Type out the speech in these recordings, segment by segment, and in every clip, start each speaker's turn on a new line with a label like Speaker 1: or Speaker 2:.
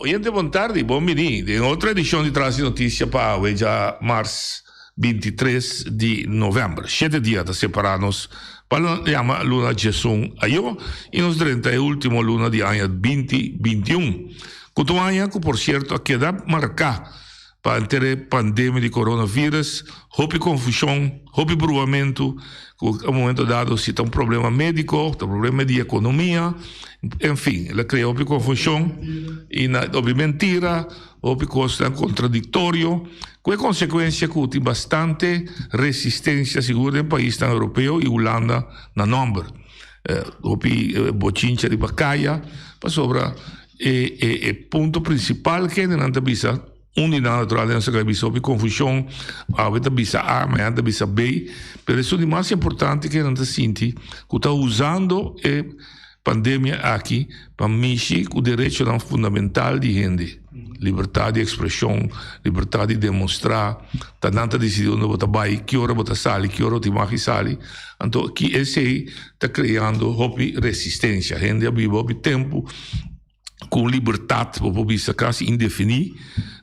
Speaker 1: Oyente bon tardi y bon bini den e otro edicion di Trasi Noticia pa awe dja mars binti tres di november. Shete dia ta separa nos pa lo yama luna Jesun ayo y nos drenta e ultimo luna di aña binti binti un. Cu tu aña cu por cierto a keda marca. pa enter e pandemia di coronavirus, hopi confusion, hopi bruamento, cu e momento dado si ta un problema medico, ta un problema di economia, en fin, el a crea hopi confusion y na hopi mentira, hopi cosnan contradictorio, cu e consecuencia cu tin bastante resistencia sigur den paisnan Europeo y Hulanda na nomber. Hopi bochincha riba caya pasobra. E e e punto principal kende nan ta bisa un di nan natural den so ka bisa hopi confusion awe ta bisa a mañana ta bisa b pero esun di mas importante kende nan ta sinti ku ta usando e pandemia aki pa mishi ku derechonan fundamental di hende libertad di expresion libertad di demonstra ta nan ta decidi unda bo ta bai ki ora bo ta sali ki ora bo ta magi sali anto ki esei ta creando hopi resistencia hende a biba hopi tempo con libertad bo por bisa casi indefini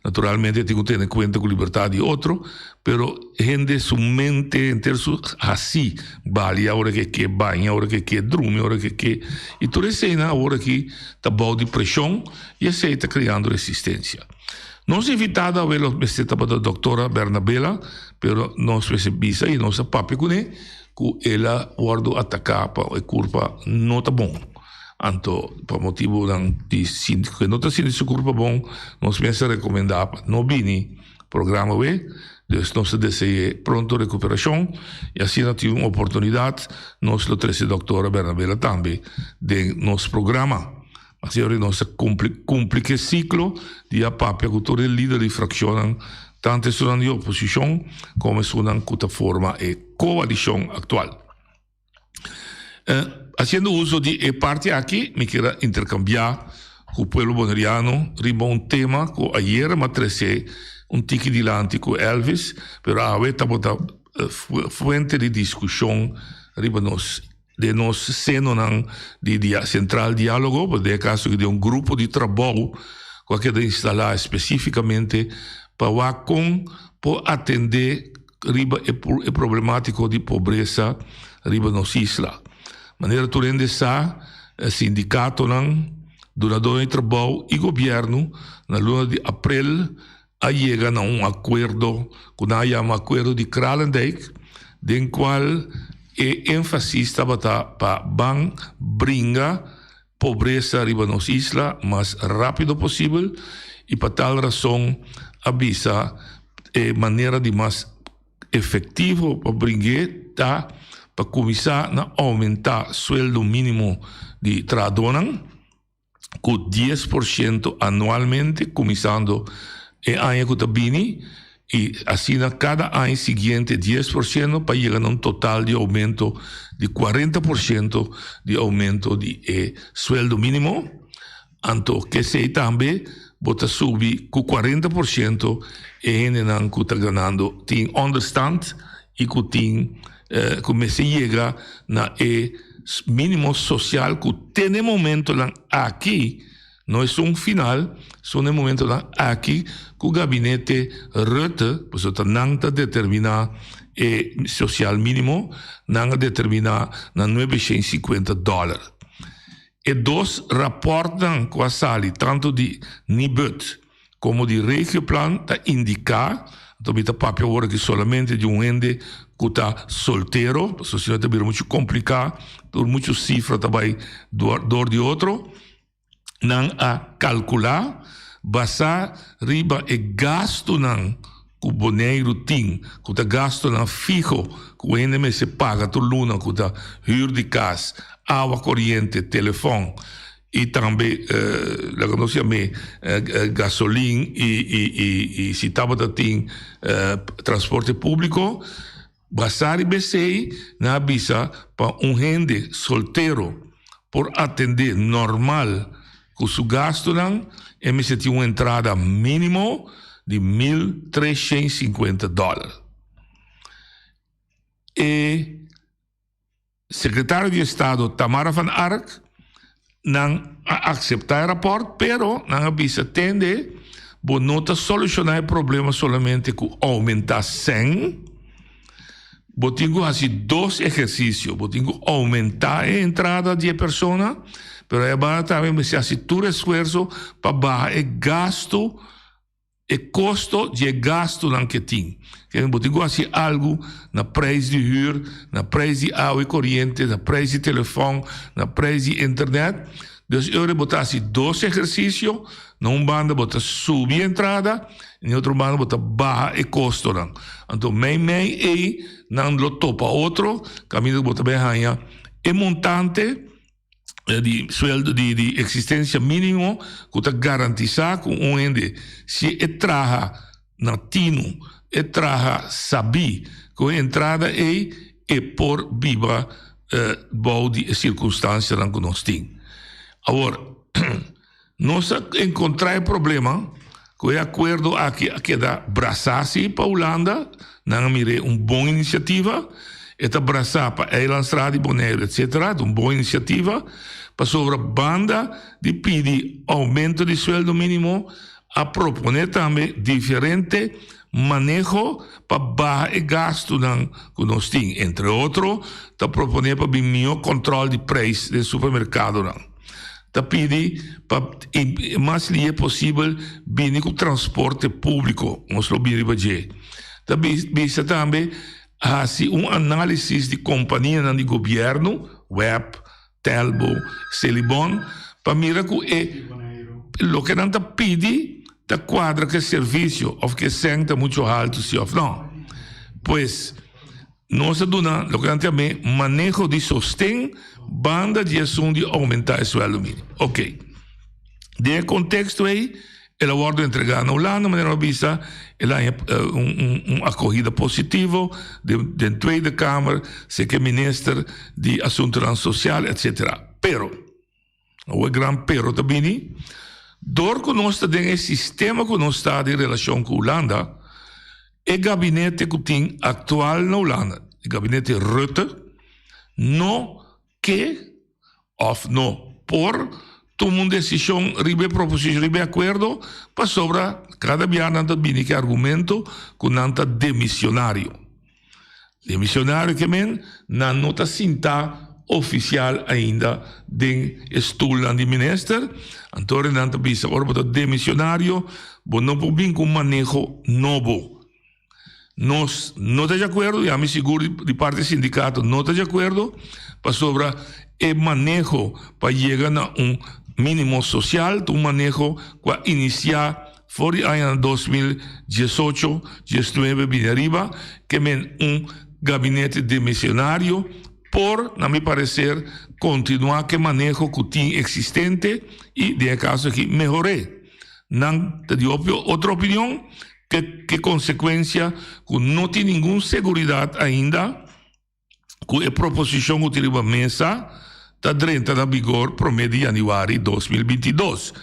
Speaker 1: naturalmente tin cu tene cuenta cu libertad di otro pero hende su mente henter su haci bali aora que ke baña aora que ke drumi aora que ke y tur esey nan awo aki ta bao di presion y esey ta creando resistencia nos invitada awe lo mester tabata doctora Bernabela pero nos mester bisa y nos a papia cune. ku el a wòrdu ataká pa e kurpa no ta bon. Anto pa motibunan di sinti ku e no ta sinti su kurpa bon, nos mester a rekomendá pa no bini programa wei. Dus nos ta dese'é pronto rekuperashon i asina tin un oportunidat nos lo trese doktora Bernabela tambe den nos programa. Así awor nos a cumpli, cumpli ke ciclo di a papia cu tur e lider di fraccionnan, tanto esunnan di oposicion como esunnan cu ta forma e coalicion actual. Haciendo uso di e parti aki mi kier a intercambia cu pueblo Boneriano riba un tema cu ayer mi a trece un tiki dilanti cu Elvis, pero awe tabata fuente di discusion riba nos. den nos senonan di di sentral dialogo por den e caso di un grupo di trabao cu a keda instala especificamente pa wak con por atende riba e e problematico di pobresa riba nos isla manera tur hende sa sindicatonan dunador di trabao y gobierno na luna di April a yega na un akuerdo ku nan a yama Akuerdo di Kralendijk, den kual e énfasis tabata pa ban bringa pobresa riba nos isla mas rápido posibel i pa tal rason a bisa e manera di mas efektivo pa bring'é ta pa kuminsá na oumentá sueldo mínimo di trahadónan. cu dies por ciento anualmente cuminsando e aña cu ta bini y asina cada aña siguiente dies por ciento pa yega na un total di aumento di cuarenta por ciento di aumento di e sueldo minimo anto kesey tambe bo ta subi cu cuarenta por ciento e hendenan cu ta ganando tin onderstand y cu tin. cu mester yega na e minimo social cu te na e momentonan aki, no es un final, son e momentonan aki cu Gabinete Rutte, pasobra ta nan ta determina e social minimo, nan a determina na nuebe shen shinkuenta dollar. E dos rapportnan cu a sali, tanto di Nibud. Komo di regioplan ta indiká, anto mi ta papia awor aki solamente di un hende ku ta soltero, pasobra sino ta bira muchu kompliká, tur muchu sifra ta bai dor di otro. Nan a kalkulá basá riba e gastunan ku Boneiru tin, ku ta gastunan fiho ku hende mester paga tur luna, ku ta hür di kas, awa koriente, telefòn. Y tambe laga nos ya me gasolin y si tabata tin transporte publico basa riba esey nan a bisa pa un hende soltero por atende normal cu su gastonan e mester tin un entrada minimo di mil treshent y sinkuenta dollar. Secretario di Estado Tamara Van Ark nan a acepta e rapport pero nan a bisa tende bo no ta soluciona e problema solamente cu aumenta cen bo tin cu haci dos ehercicio bo tin cu aumenta e entrada di e persona pero e banda tambe mester haci tur esfuerzo pa baha e gasto E kosto di e gastunan ke tin. Kende bo tin ku hasi algu na preis di hür, na preis di awa i koriente, na preis di telefòn, na preis di internet. Dus ora bo ta hasi dos ehersisio, na un banda bo ta subi e entrada i na e otro banda bo ta baha e kostonan. Anto meimei ei nan lo topa otro kaminda ku bo ta bin haña e montante. di sueldo di di eksistensia minimo ku ta garantisá ku un hende si e traha na tinu e traha sabí ku e entrada ei e por biba bou di e sirkunstansianan ku nos tin awor. Nos a encontra e problema cu e acuerdo aki a keda brasa si pa Hulanda, nan a mir'e un bon iniciativa, e ta brasa pa Eilandsraad y Bonaire etc. Ta un bon iniciativa, pasobra banda di pidi aumento di sueldo minimo a propone tambe diferente maneho pa baha e gastunan cu nos tin, entre otro ta propone pa bin miho control di prijs den supermercadonan. ta pidi pa e mas lihe posibel bini ku transporte públiko nos lo bin riba dje. Ta bisa tambe hasi un análisis di kompanianan di gobièrnu, Web, Telbo, Celibon, pa mira ku e loke nan ta pidi ta kuadra ku e servisio òf ku e sèn ta mucho haltu si òf nò. Pues. Nos a duna loke nan tin abé maneho di sosten banda di asun di oumenta e sueldo minimo. Ok. Den e konteksto ei el a wòrdu entregá na Hulanda, manera nos a bisa el a haña un akohida positivo den Tweede Kamer, seke minister di Asuntonan Sosial, etsetera. Pero. Awo e gran pero ta bini, dor ku nos ta den e sistema ku nos ta di relashon ku Hulanda, e gabinete ku tin aktual na Hulanda, e gabinete Rutte, no ke òf no por tuma un desishon riba e proposishon, riba e akuerdo, pasobra kada bia nan ta bini ku e argumento ku nan ta demishonario. Di misionario kemen nan no ta sintá ofisial ainda den e stulnan di minister. Anto ora nan ta bisa, ora bo ta den misionario, bo no por bin ku un maneho nobo. Nos no ta di akuerdo, ya mi sigur di parti e sindikato no ta di akuerdo, pasobra e maneho pa yega na un minimo sosial ta un maneho ku a inisiá. For di añanan dos mil diesocho, diesnuebe bini ariba, ke men un gabinete demisionario por, na mi pareser, kontinuá ke maneho ku tin eksistente i den e kaso aki mehor'é. Nan ta di opio otro opinion ke konsekuensia ku no tin ningun seguridat ainda, ku e proposishon hopi riba mesa ta drenta na bigor promé di yanüari dos mil binti dos.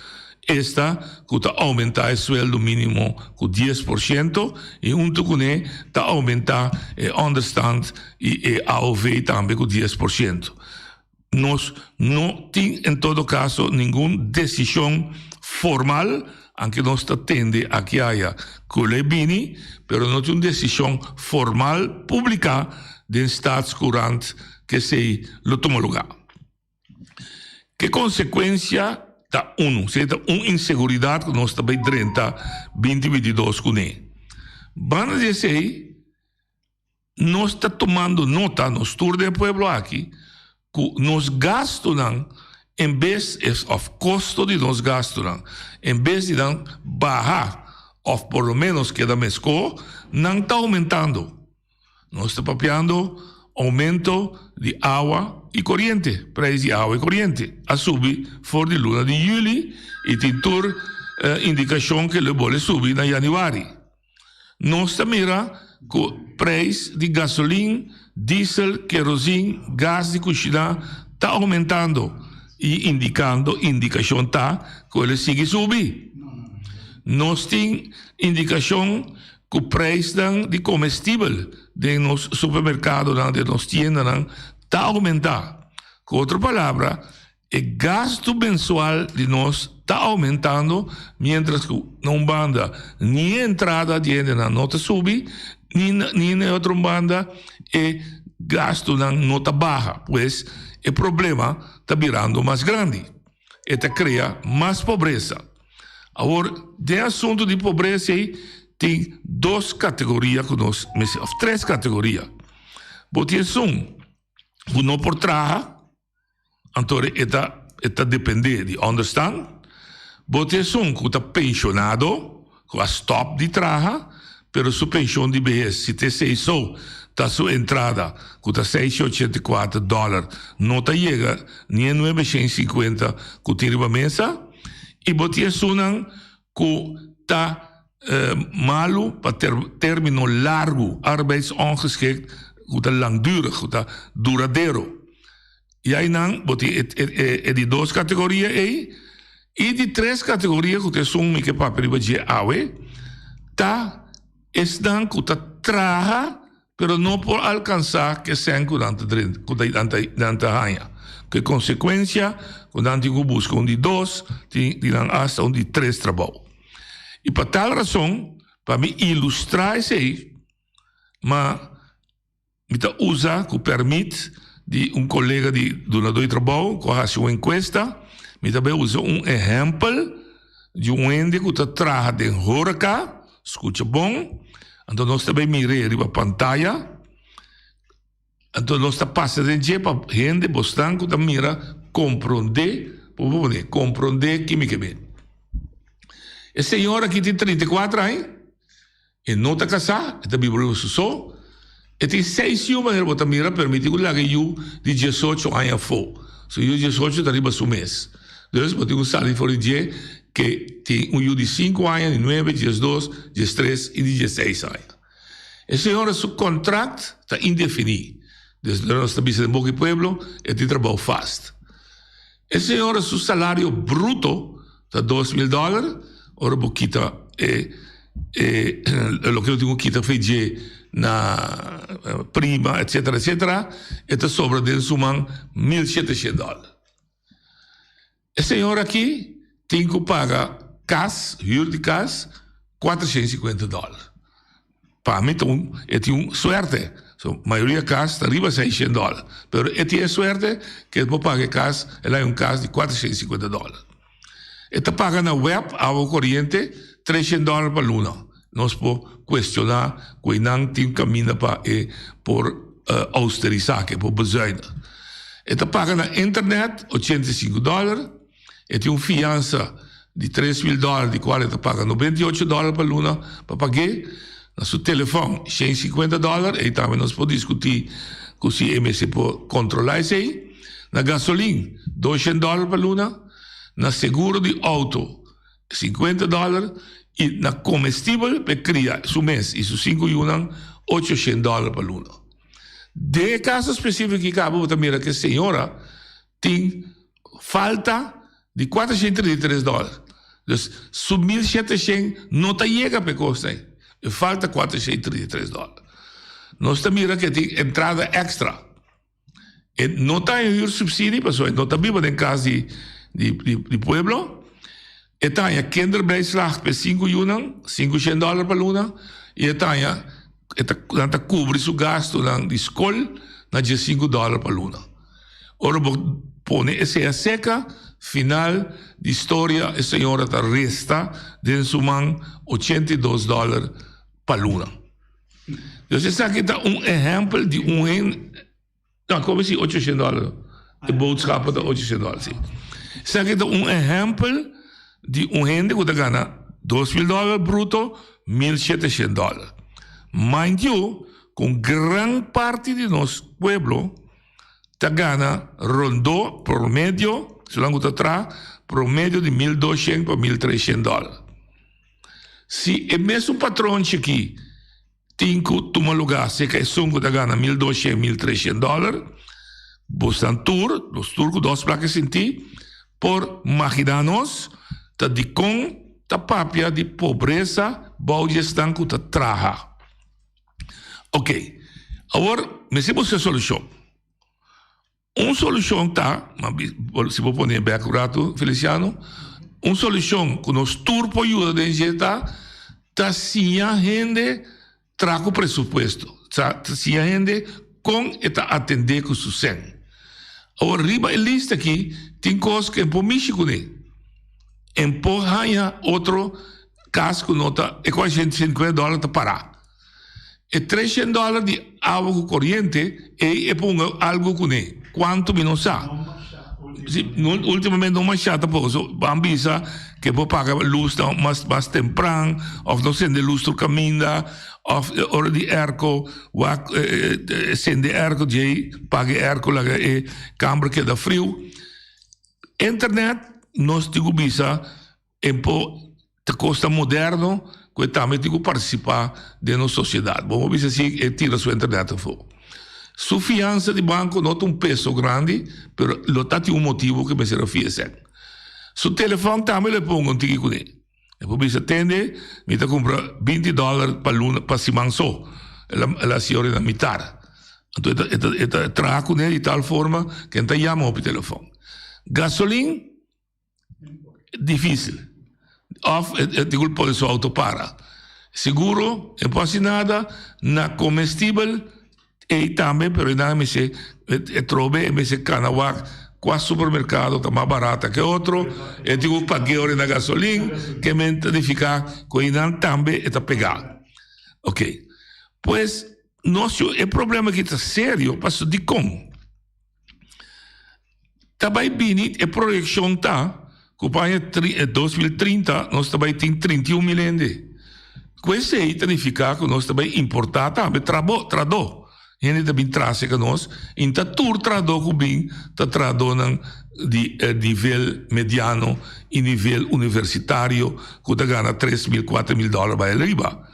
Speaker 1: Esta ku ta oumentá e sueldo mínimo ku dies por siento i huntu kuné ta oumentá e ònderstand i e AOV tambe ku dies por siento. Nos no tin en todo caso ningun decision formal, anke nos ta tende akiaya kul'e bini, pero no tin un decision formal publica den Staatscourant k'esei lo tuma luga. Ke consecuencia ta unu, esei ta un inseguridad ku nos ta bai drenta binti bintidos kuné. Banda di esei. Nos ta tumando nota, nos tur den pueblo aki, ku nos gastunan en bes es òf kosto di nos gastunan en bes di nan baha òf por lo ménos keda meskó, nan ta oumentando. Nos ta papiando oumento di awa i koriente, preis di awa i koriente a subi for di luna di yüli i tin tur indikashon ke lo e bole subi na yanüari. Nos ta mira cu prijs di gasolin, diesel, kerosin, gas di cushina ta aumentando y indicando indicacion ta cu el a sigui subi. Nos tin indicacion cu prijsnan di comestibel den nos supermercadonan, den nos tiendanan ta aumenta. Cu otro palabra. E gastu mensual di nos ta oumentando miéntras ku na un banda ni e entrada di hendenan no ta subi ni ni na e otro un banda e gastunan no ta baha. Pues e problema ta birando mas grandi. E ta krea mas pobresa. Awor den asuntu di pobresa ei tin dos kategoria ku nos mester òf tres kategoria. Bo tin esun ku no por traha. Anto e ta e ta depende di onderstand bo tin esun ku ta penshonado ku a stòp di traha pero su penshon di behes si te esei so ta su entrada ku ta seis i ochenta i kuater dòler no ta yega ni e nuebe shen i sinkuenta ku tin riba mesa i bo tin esunnan ku ta malu pa término largu, arbeidsongeschikt ku ta langdurig, ku ta duradero. I einan bo tin e di dos kategoria ei. I di tres kategoria ku ta esun mi ke papia riba dje awe, ta esnan ku ta traha. pero no por alcansa ke sèn ku nan ta drenta, ku nan ta haña, ku e konsekuensia ku nan tin ku buska un di dos ti di nan asta un di tres trabou. I pa tal rason pa mi ilustrá esei ma mi ta usa ku pèrmit di un kolega di dunadó di trabou ku a hasi un enkuesta, mi ta bai usa un ehèmpel di un hende ku ta traha den horeca, Scucha bon. Anto nos ta bay mir'é riba pantaya. Anto nos ta pasa den dje pa hende bosnan cu ta mira comprondé, por bo pone, comprondé kimi ke be. E señor aki tin trinta i kuater aña. E no ta casá, e ta biba riba su so. E tin seis yu manera bo ta mira permiti ku laga e yu di diesocho aña afó. Su yu diesocho ta riba su mes. Dus bo tin ku sali for di dje ke tin un yu di sinku aña, di nuebe, diesdos, diestres i di dieseis aña. E señora su kontrakt ta indefiní. Desnora nos ta bisa den boka e pueblo e tin trabou fast. E señora su salario bruto ta dos mil dòler, ora bo kita e loke lo tin ku kita fe dje na prima etsetera etsetera e ta sobra den su man mil sheteshet dòler. E señora aki tin ku paga kas, hür di kas, kuatershen sikuenta dòler. Pa mi ta un e tin un suerte so mayoria cas ta riba seishen dollar pero e tin e suerte ke el por paga e cas el hay un cas di cuatrociento y cincuenta dollar e ta paga na web awa coriente treshen dollar pa luna nos por cuestiona cu eynan tin caminda pa e por austerisa ke por bezuina e ta paga na internet ochenta y cinco dollar. E tin un fiansa di tres mil dòlar di kual e ta paga noventa i ocho dòlar pa luna pa pag'é. Na su telefòn shen i sikuenta dòlar, ei tambe nos por diskutí ku si e mester por kontrolá esei. Na gasolin dos shen dòlar pa luna, na seguro di outo sikuenta dòlar i na komestibel pa e kria su mes i su sinku yunan ocho shen dòlar pa luna. Den e kaso spesífiko ki kaba bo ta mira ku e señora tin falta di cuatrociento treinta y tres dólar. Dus su mil shetecien no ta yega pa e cos na ey. E falta cuatrociento treinta y tres dólar. Nos ta mira cu e tin entrada extra. E no ta en huursubsidie pasobra e no ta biba den cas di pueblo. E taña Kinderbijslag p'e sinku yunan, sinku shen dòler pa luna, i e taña e ta nan ta kubri su gastunan di skol na diesinku dòler pa luna. Ora bo pone e sea seka, final di storia e señora ta resta den su man ochenta i dos dòler pa luna. Jos esaki ta un ehèmpel di un. Ta koba si ocho shent dòler. E boodschap ta ocho shent dòler, si. Esaki ta un ehèmpel di un hende ku ta gana dos mil dòler bruto, mil shete shent dòler. Mind you, ku un gran parti di nos pueblo ta gana rondó promedio, esunam ku ta traha, promedio di mil dos shent pa mil tres shent dòler. Si e mesun patronchi aki. Tin cu tuma lugá seca esun cu ta gana mil duashent, mil treshent dollar. Bosnan tur, nos tur cu dos placa sinti, por magina nos ta dicon ta papia di pobresa bao di esnan cu ta traha. Oke, awor mester busca solucion. Un solucion ta, si bo pone bek un rato Feliciano, un solucion cu nos tur por yuda den dje ta, ta siña hende traha cu presupuesto, ta siña hende con e ta atende cu su sen. Awor riba e lista aki tin cos cu e por mishi cune, e por haya otro cas cu no ta, e con a shenta y cincuenta dollar ta para. E treshen dollar di awa ku koriente ei e por un algu kuné. Kuantu mi no sa. Si, ultimamente no masha tampoco. So, ban bisa ke por paga lus nan mas mas tempran òf no sende lus tur kaminda òf ora di airco wak sende airco djei paga e airco laga e kamber keda friu. Internet nos tin ku bisa. Empo ta kosta moderno ku e tambe tin ku partisipá den nos sosiedat. Bo bisa así e tira su internet afó. Su fiansa di banko no ta un peso grandi, pero lo ta tin un motibu ku e mester a fia esei. Su telefòn tambe lo e ponga un tiki kuné. E por bisa, Tende, mi ta kumpra binti dòler pa luna, pa siman so. El a siñora na mitar. Anto e ta traha kuné di tal forma ku e ta yama hopi telefòn. Gasolin. difícil of e tigul pone su auto para seguro e por haci nada na comestible ey tambe pero nan a mester atrobe a mester cana wak cua supermercado ta mas barata ke otro e tin un pagueo den na gasolina ke men ta nifica cu eynan tambe e ta pega okay pues nos e problema aki ta serio pasobra dicon. Ta bai bini, e proyeccion ta cu pa aña dos mil trinta nos ta bai tin trinta i un mil hende. Cu esey ta nifica cu nos ta bai importa tambe trado. Hende ta bin trase ca nos y nta tur trado cu bin ta tradonan di nivel mediano y nivel universitario cu ta gana tres mil, cuatro mil dollar bai riba.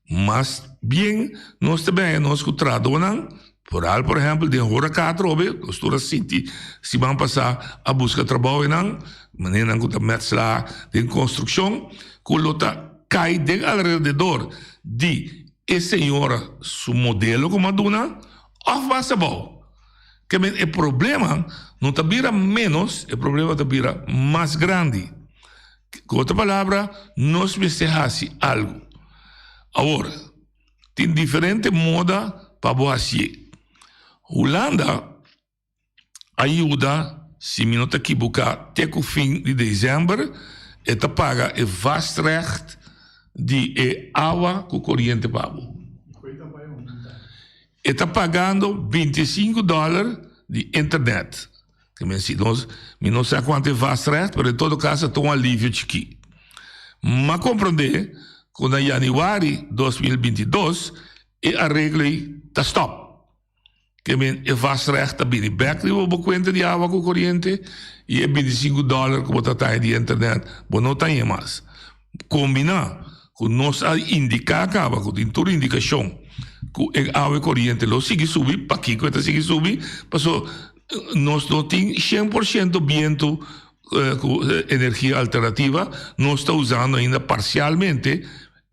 Speaker 1: Mas bien nos ta bay nos cu tradonan Foral por ehempel den hora katro hopi nos tur a sinti si ban pasa a buska trabou enan manera nan ku ta metsla den konstrukshon ku lo ta kai den alrededor di e señora su modelo ku m'a duna òf bas abou ke men e problema no ta bira ménos e problema ta bira mas grandi ku otra palabra nos mester hasi algu awor. Tin diferente moda pa bo hasié. Hulanda a yuda, si mi no ta kibuká, te ku fin di desèmber, e ta paga e vastrecht di e awa ku koriente pa bo. E ta pagando binti e sinku dòler di internet. Ke mi a si nos, mi no sa kuantu e vast rèt, pero en todo kaso ta un alivio chikí. M'a komprondé ku na yanüari dos mil binti dos e areglo ei ta stòp. Ke men e vast rèt ta bini bèk riba bo kuenta di awa ku koriente i e binti sinku dòler ku bo ta taña di internet bo no ta haña mas. Combina cu nos a indica caba cu tin tur indicacion cu e awe coriente lo sigui subi, pakico e ta sigui subi, paso nos no tin cien por ciento bientu cu energia alternativa, nos ta usando ainda parcialmente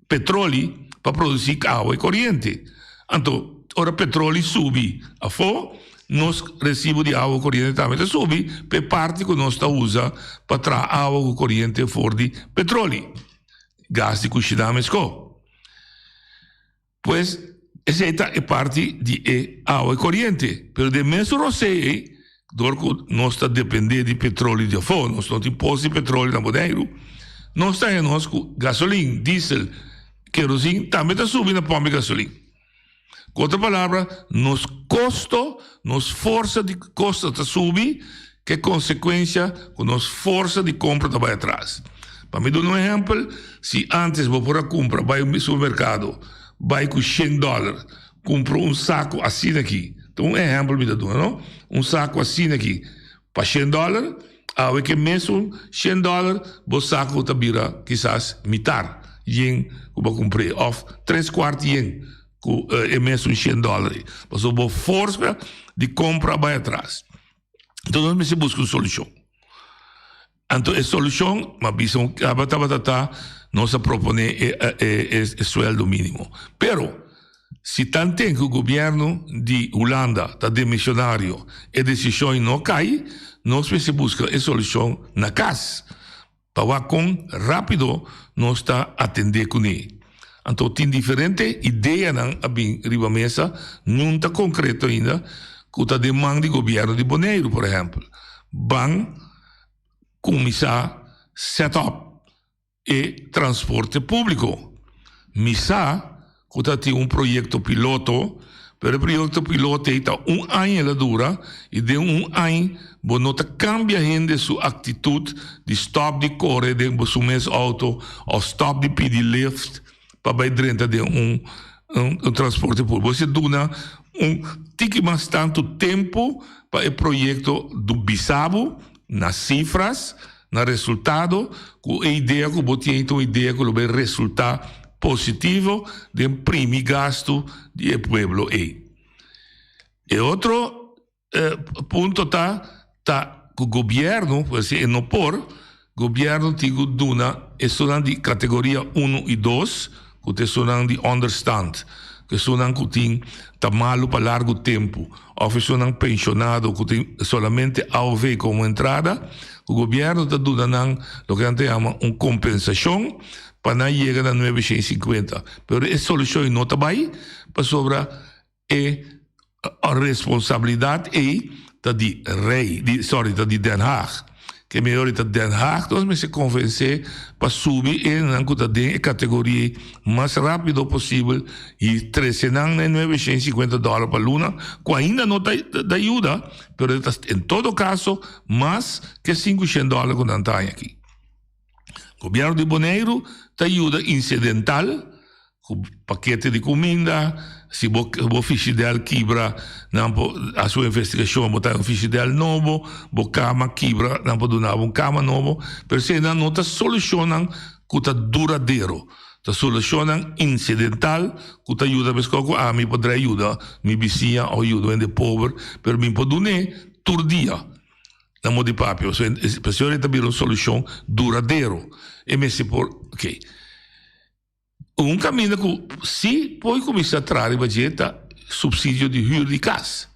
Speaker 1: petroli pa produci awe coriente. Anto, ora petroli subi afo, Nos resibo di awa ku koriente tambe ta subi pa e parti ku nos ta usa pa traha awa ku koriente for di petroli, gas di kushiná meskó. Pues esei ta e parti di e awa i koriente. Pero den mes rosé ei dor ku nos ta dependé di petroli di afó, nos no tin pos di petroli na Boneiru, nos ta haña nos ku gasolin, diesel, kerosin tambe ta subi na pòmpi gasolin. Ku otro palabra, nos kosto, nos forsa di kosto ta subi, ku e konsekuensia ku nos forsa di kompra ta bai atras. Pa mi duna un ehèmpel, si ántes bo por a kumpra, bai un supermerkado, bai ku shen dòler, kumpra un saku asina aki, ta un ehèmpel mi ta duna, no. Un saku asina aki. Pa shen dollar, awe ke mesun shen dollar bo sa ku ta bira kisas mitar yen ku bo kumpr'é òf tres kuart yen ku e mesun shen dollar ei. Pasobra bo forsa di kompra bai atras. Enton nos mester buska un solushon. Anto e solucion, m'a bisa un caba tabata ta, nos a propone e sueldo minimo. Pero, si tanten cu gobierno di Hulanda ta demisionario, e decision no cay, nos mester busca e solucion na cas, pa wak con rapido nos ta atende cune. Anto tin diferente ideanan a bin riba mesa, niun ta concreto ainda, cu ta den man di gobierno di Boneiru, por ehempel, ban. kuminsá sèt òp e transporte públiko. Mi sa ku ta tin un proyekto piloto, pero e proyekto piloto ei ta un aña el a dura i den un aña bo no ta kambia hende su aktitut di stòp di kore den bo su mes outo òf stòp di pidi lift, pa bai drenta den un un transporte publico. Bo si duna un tiki mas tantu tempu pa e proyekto do bisa bo na sifras, na resultado ku e idea ku bo tin ei ta un idea ku lo bai resulta positivo den primi gastu di e pueblo ei. E otro. eh, punto ta ta ku gobierno pues si e no por gobierno tigu duna e sunan di kategoria 1 i 2 ku te sunan di understand ke sunan ku tin ta malu pa largo tempo of sunan pensionado ku tin solamente AOV como entrada ku gobierno ta duna nan lo ke nan ta llama un compensación pa nan yega na 950 pero e solución no ta bai pasobra E responsabilidad ei ta di rey, di sorry ta di Den Haag. Ke mihó di ta Den Haag nos mester konvensé pa subi e nan ku ta den e kategoria ei mas rápido posibel i trese nan na e nueve shen sikuenta dòler pa luna ku ainda no ta ta yuda pero e ta en todo kaso mas ke sinku shen dòler ku nan ta haña aki. Gobierno di Boneiru ta yuda incidental cu pakete di cuminda, si bo bo fishi del kibra nan por haci un investigacion bo ta haci un fishi del nobo, bo cama kibra nan por duna bo un cama nobo, pero eseinan no ta solucionnan cu ta duradero, ta solucionnan incidental cu ta yuda meskos cu ami por trae yuda mi bisiña o yuda un hende pober pero mi por dun'e tur dia. na mor di papia. So, e presión ei ta bira un solushon duradero. E mester por, ok. Un kaminda ku si por kuminsá traha riba dje ta supsidio di hür di kas.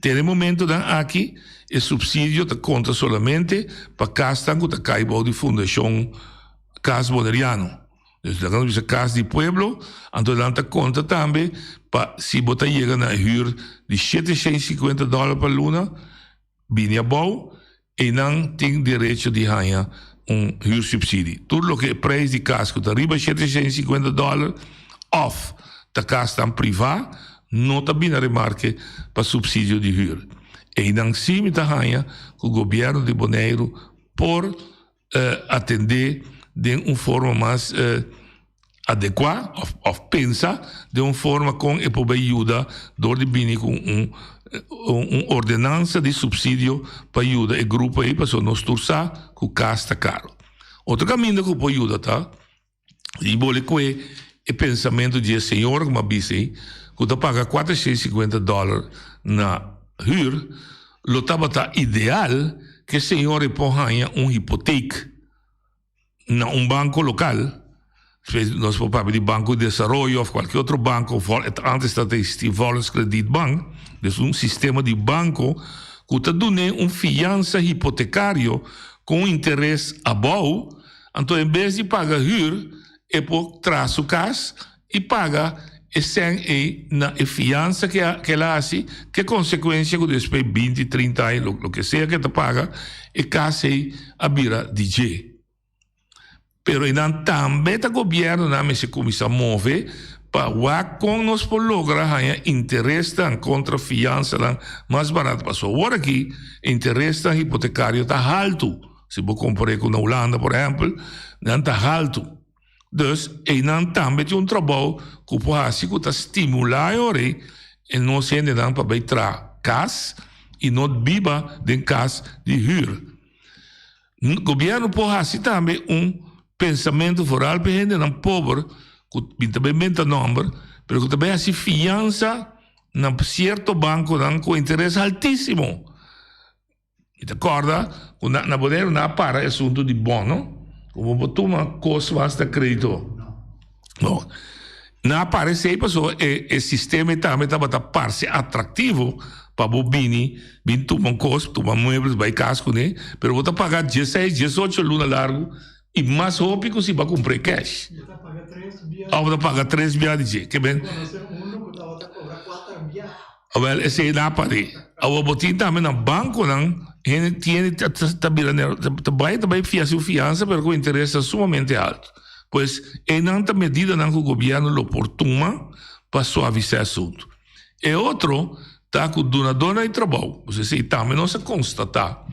Speaker 1: Den e momentonan aki e supsidio ta konta solamente pa kasnan ku ta kai bou di Fundashon Kas Boneriano. Nos laga nos bisa Kas di Pueblo, anto nan ta konta tambe pa si bo ta yega na e hür di shete shei sikuenta dòler pa luna bini abou, einan tin derecho di haña un hürsubsidi. Tur loke e preis di kas ku ta riba shete shei sikuenta dòler òf ta kasnan privá no ta bini a remarke pa supsidio di hür. Einan sí mi ta haña ku Gobièrnu di Boneiru por. atendé den un forma mas adekuá òf pensa den un forma kon e por bai yuda dor di bini ku un un ordenansa di supsidio pa yuda e grupo ei pasobra nos tur sa ku kas ta karo. Otro kaminda ku por yuda ta. Di bo le kue e pensamentu di e señora ku mi a bisa ei, ku ta paga kuater shei sikuenta dòler na hür, lo tabata ideal ku e señora ei por haña un hipotek na un banko lokal, nos por papia di Banco de Desarrollo òf kualke otro banko, ántes ta eksistí Volkskredietbank, es un sistema di banko ku ta dun'é un fiansa hipotekario ku un interes abou. Anto en bes di paga hür e por tra su kas i paga e sèn ei na e fiansa ke a ke el a hasi ke konsekuensia ku despues binti trinta aña lo loke sea ke ta paga e kas ei a bira di dje. Pero enan tambe ta gobièrnunan mester kuminsá move pa wak kon nos por logra haña interesnan kontra fiansanan mas barat pasobra awor aki e interesnan hipotekario ta haltu. Si bo compar'é cu na Hulanda, por ehempel, nan ta haltu. Dus, einan tambe tin un trabou cu por haci cu ta stimula e ora ei e nos hendenan pa bay traha cas y no biba den cas di huur. Gobierno por haci tambe un pensamento vooral p'e hendenan pober cu bin ta bay menta nomber, pero cu ta bay haci fianza na cierto banconan cu interes altisimo. I ta corda cu na na bodega na a para e asunto di bono, cu bo por tuma cos cu hasta credito. No. Na a para esey pasobra e e sistema ei tambe tabata parce atractivo pa bo bini, bin tuma un cos, tuma muebles, bay cas cun'e, pero bo ta paga diesseis, diesocho luna largu i mas hopi cu si bo a cumpr'e cash.
Speaker 2: Of bo ta paga tres biaha
Speaker 1: di dje. Ke ben. Awel esei na pari. Awo bo tin tambe na bankonan, hende tiene ta bira nel, ta bai ta bai fia su fiansa pero ku interes ta sumamente alto. Pues einan ta medidanan ku gobièrnu lo por tuma pa suavisá e suntu. E otro ta ku dunadónan di trabou, pues esei tambe nos a konstatá.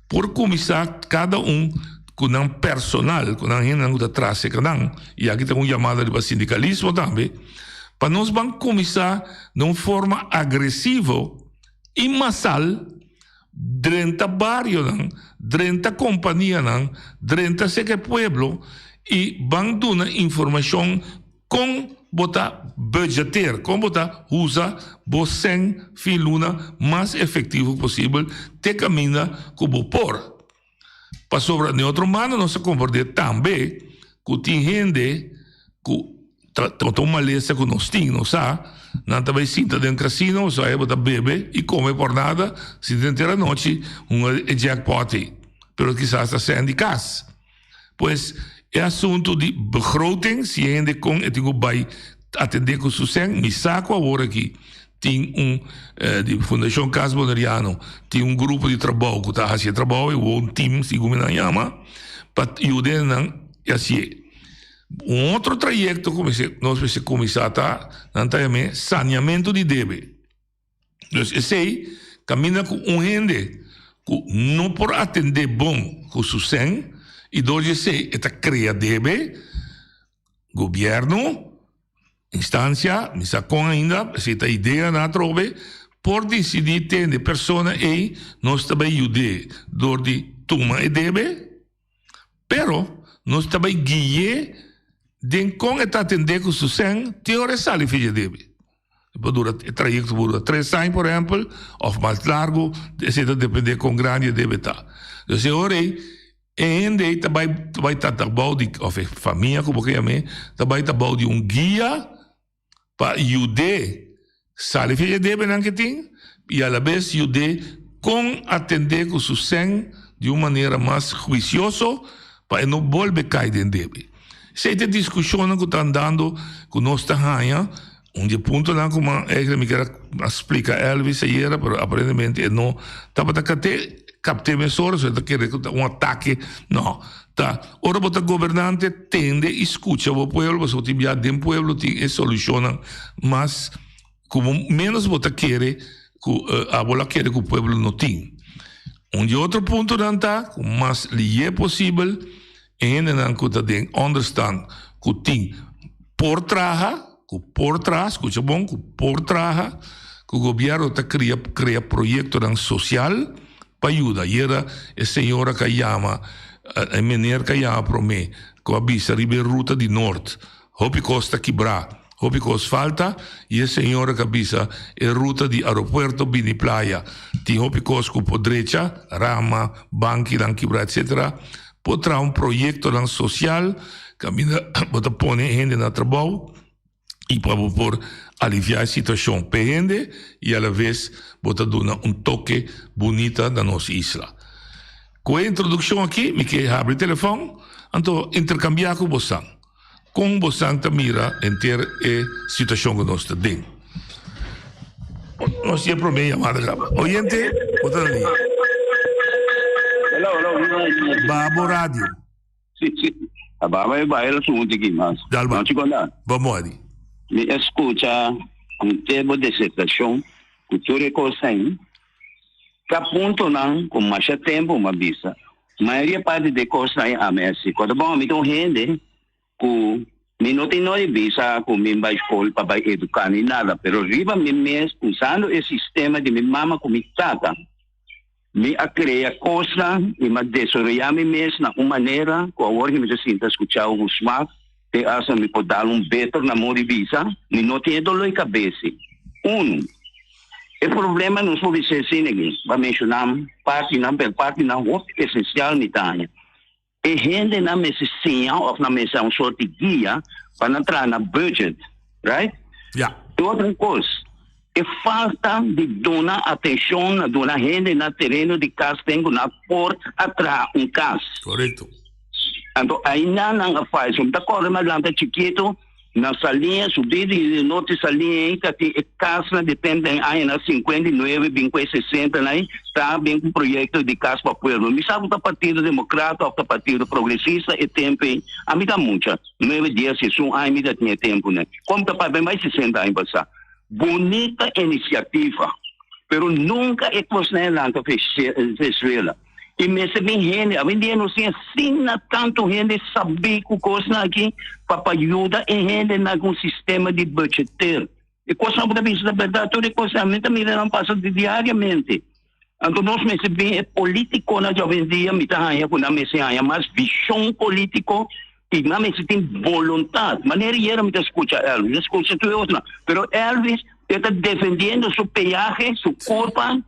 Speaker 1: Por kuminsá kada un ku nan personal, ku nan hendenan ku ta traseca nan, i aki ta un yamada riba sindikalismo tambe, pa nos ban kuminsá na un forma agresivo i masal drenta barionan, drenta kompanianan, drenta seke pueblo i ban duna informashon. Kon bo ta budgeteer, kon bo ta usa bo sèn fin luna mas efektivo posibel te kaminda ku bo por. Pasobra den otro mano nos a komprendé tambe ku tin hende ku ta ta un malesa ku nos tin, nos sa, nan ta bai sinta den kasino o sabe bo ta bebe i kome por nada sinta den teranochi hunga e jèkpòt ei, pero kisas ta sèn di kas. Pues e asuntu di begroting, si e hende kon e tin ku bai atendé ku su sèn, mi sa ku awor aki tin un di Fundashon Kas Boneriano tin un grupo di trabou ku ta hasi e trabou, e wou tim si kumi nan yama, pa yuda nan i a sié. Un otro trayekto ku nos mester kuminsá ta nan ta yam'é saniamentu di debe. Pues esey caminda cu un hende cu no por atende bon cu su sen y dor dje esey e ta crea debe gobierno, instancia, mi sa con ainda, esey ta idea na atrobe, por dicidi tende persona ey nos ta bay yude dor di tuma e debe. Pero, nos ta bai gui'é den kon e ta atendé ku su sèn te ora e sali fija debe. E por dura, e trayekto por dura tres aña, por ehèmpel, òf mas largu, esei ta dependé kon grandi e debe ta. Entonces e ora ei, e hende ei ta bai ta bai ta ta bou di, òf e famia ku bo ta yam'é, ta bai ta bou di un guia, pa yud'é sali fin e debenan ke tin i alabes yud'é kon atendé ku su sèn di un manera mas huisioso pa e no bolbe kai den debe. Esei ta e diskushonnan ku ta andando ku nos ta haña un di e puntonan ku man Egre mi keda a splika Elvis ayera pero aparentemente e no tabata kate kapte mesora so e ta kere ku ta un atake no. Ta, ora bo ta gobernante tende y scucha bo pueblo pasobra bo tin bia den pueblo tin e solucionnan mas cu bo menos bo ta kere cu abo lo a kere cu pueblo no tin. Un di e otro puntonan ta cu mas liye posibel e hendenan cu ta den onderstand cu tin por traha, Ku por traha, skucha bon, ku por traha ku gobièrnu ta kria krea proyektonan sosial pa yuda. Ayera e señora ka yama, e mener ka yama promé ku a bisa riba e ruta di nort. Hopi kos ta kibrá, hopi kos falta i e señora ka bisa e ruta di aeropuerto bini playa tin hopi kos ku por drecha, rama, bankinan kibrá etsetera. Por traha un proyectonan social caminda bo ta pone e hende na trabao y pa bo por alivia e situacion p'e hende y a la vez bo ta duna un toke bunita na nos isla. Cu e introduccion aki mi ke habri telefon anto intercambia cu bosan. Kon bosan ta mira henter e situashon ku nos ta den? Nos tin e promé yamada graba. Oyente, bo ta na liña.
Speaker 2: Ba bo radio. A baba e bai el a su hunti aki mas. Dal bai. Nochi konta.
Speaker 1: Bo
Speaker 2: modi?
Speaker 1: Mi eskucha
Speaker 2: henter bo desesperacion ku tur e kos ein. Ta puntonan cu masha tempo m'a bisa. Mayoria parti d'e cosnan a mester. Con ta bon, mi ta un hende cu mi no tin noe bisa cu mi bai school pa bai educa ni nada, pero riba mi mes, usando e sistema di mi mama cu mi tata, mi a crea cosnan y m'a desoroya mi mes na un manera cu awor mi ta sinti a scucha un smaak. te asna mi por dal un beter namor di bisa, mi no tin e dolor di kabesi. Unu, e problema nos por bisa asina aki, pa menshona partinan, pero partinan hopi esensial mi ta haña. E hendenan mester siña òf nan mester a un sort di guia pa nan traha na budget, right? Ya. E
Speaker 1: otro kos.
Speaker 2: E falta di duna atencion na duna hende na tereno di casden cu na por a traha un cas. Corecto.
Speaker 1: Anto
Speaker 2: aina nan a fai. Si bo ta corre mas lanta chikito na Salin, subi di Norte Salin ey ta tin e casnan di tem den añanan cincuenta y nuebe bin cu e sesentan ey ta bin cu proyecto di cas pa pueblo. Mi sa cu ta Partido Democrata of ta Partido Progresista e tempo ey. Ami ta mucha, nuebe, dies, esun aña mi ta tin e temponan. Con mi ta papia mi bay sesenta aña basa. Bonita iniciativa, pero nunca e cosnaenan ta Venezuela. Y mester mi hende, a bendie nos tin asina tanto hende sabi cu cosnan aki pa pa yuda e hendenan cu un sistema di budgeter. E cosnan bo ta bisa ta berdad, tur e cosnan, mi ta mira nan pasa di diariamente. Anto nos mester bin e politiconan diabensdia mi ta haya cu nan mester haya mas vision politico y nan mester tin voluntad. Manera y ayer mi ta scucha Elvis, mi scucha tur e otronan, pero Elvis e ta defendiendo su peaje, su curpa,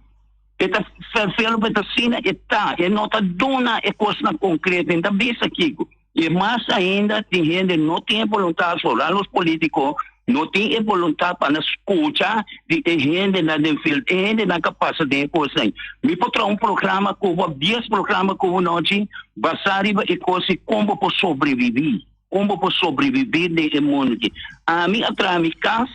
Speaker 2: e ta vervelo pa e ta asina e ta, e no ta duna e cosnan concreto, e no ta bisa kico. I e mas ainda tin hende no tin e boluntat for a los politico no tin e boluntat pa nan scucha di e hendenan den field e hendenan ca pasa den e cos den mi por traha un programa cu bo dies programa cu bo nochi basa riba e cos di con bo por sobrevivi con bo por sobrevivi den e mundo aki ami a traha mi cas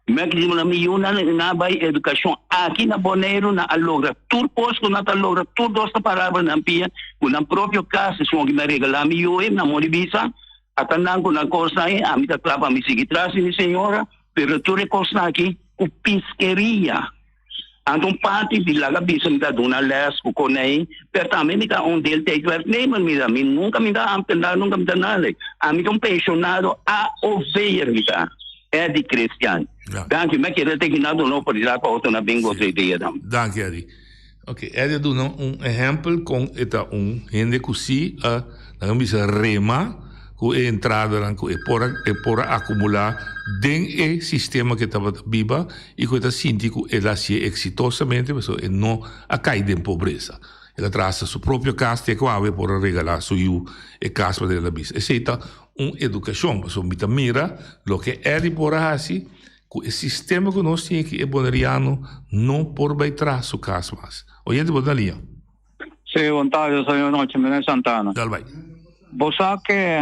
Speaker 2: Maximo na mi yu nan na bai educacion aki na Boneiru nan a logra tur cos cu nan ta logra tur dos ta parabra nan pia cu nan propio cas esun hopi na regala mi yu'e nan mor di bisa ata nan cu nan cos nan e ami ta tla pa mi sigui tras di mi señora pero tur e cos nan aki cu piskeria Anto un parti di laga bisa mi ta duna les ku konei, pero tambe mi ta un deeltijdwerknemer. Mira, mi nunka mi ta amtendar, nunka mi ta nada. Ami ta un penshonado AOV'er mi ta, e di Christian. Danki. Mi a kere te hina duna oportunidat pa otro nan bin goza e dia dan. Danki, Eddy.
Speaker 1: Ok, Eddy a duna un ehèmpel kon e ta un hende ku si a, laga mi bisa, rema ku e entradanan ku e por a, e por a akumulá den e sistema ku e tabata biba. I ku e ta sinti ku el a hasi e eksitosamente pasobra e no a kai den pobresa. El a traha hasta su propio kas te ku awe e por a regalá su yu e kas pasobra el a bisa esei ta un edukashon pasobra mi ta mira loke Eli por a hasi ku e sistema ku nos tin aki e boneriano no por bai traha su kas mas. Oyente bo ta na liña. Sí, bon
Speaker 3: tarde, señor Noche, Mene Santana. Dal bai.
Speaker 1: Bo sa
Speaker 3: ke.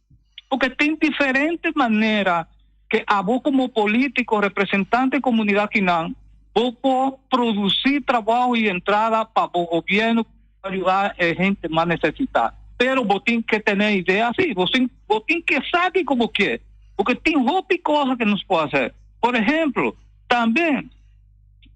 Speaker 3: Porque tin diferente manera ke abo komo politiko, representante komunidat kinan, bo por produsi trabaho i entrada pa bo gobièrnu pa yuda e hente mas nesesita. Pero bo tin ke tene idea así, bo tin bo tin ke sa kiko bo ke, porque tin hopi kosa ke nos por hase. Por ehemplo, tambe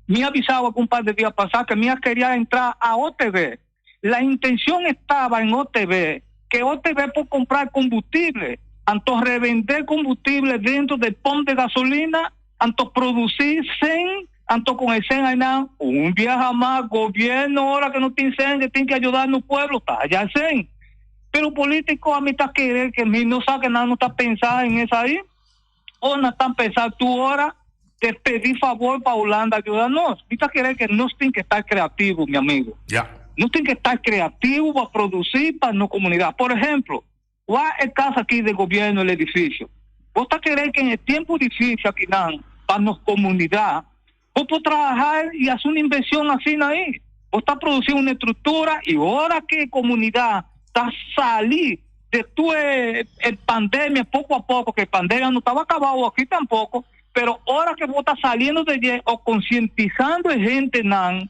Speaker 3: mi a bisa awa ku un par de dia pasá ke mi a keria entrá AOTV. La intencion e taba en OTB ke OTB por compra combustible, anto revende combustible dentro de pump de gasolina, anto produci sen, anto con e sen aynan un biaha mas gobierno ora ke no tin sen e tin ke ayuda nos pueblo ta haya sen. Pero politico a mi ta kere ke mi no sa ke nan no ta pensa en esai. o na tan pensa tu ora te pedi favor pa Hulanda yuda nos? Mi ta kere ke nos tin ke ta kreativo, mi amigo. Ya. Nos tin ke ta kreativo pa produsí pa nos komunidat. Por ehemplo, wak e kas aki den gobièrnu, el edifisio. Bo ta kere ke en e tiempo difísil akinan pa nos komunidat, Bo por traha y haci un inversion asina ahi. Bo ta produci un estructura y ora cu e comunidad ta sali de tur e pandemia poco a poco, que e pandemia no taba cabao aki tampoco, pero ora que bo ta saliendo de dje o concientizando e gentenan,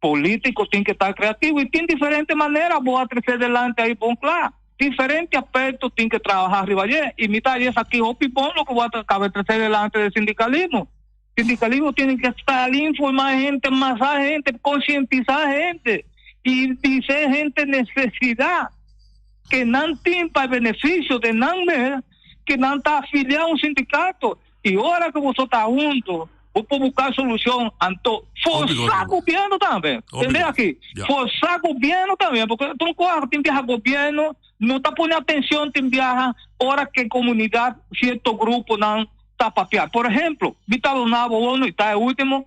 Speaker 3: Politico tin ke ta creativo y tin diferente manera bo a trece delante ahi bon cla. Diferente aperto tin ke trabaha riba aye y mi ta jes aki hopi bon loke bo a caba trece delante de sindicalismo. Sindicalismo tiene ke sali informa hende, masa hende, concientisa hende y dise hende necesidad ke nan tin pa beneficio de nan mes ke nan ta afilia un sindicato. I ora ku boso ta huntu, bo por buká solushon anto. Forsá gobièrnu tambe. Tende aki, forsá gobièrnu tambe. Pasobra tur un kos tin biaha gobièrnu no ta pone atenshon tin biaha ora ku e komunidat, sierto gruponan ta papiá. Por ehemplo, mi ta duna bo unu, i ta e último.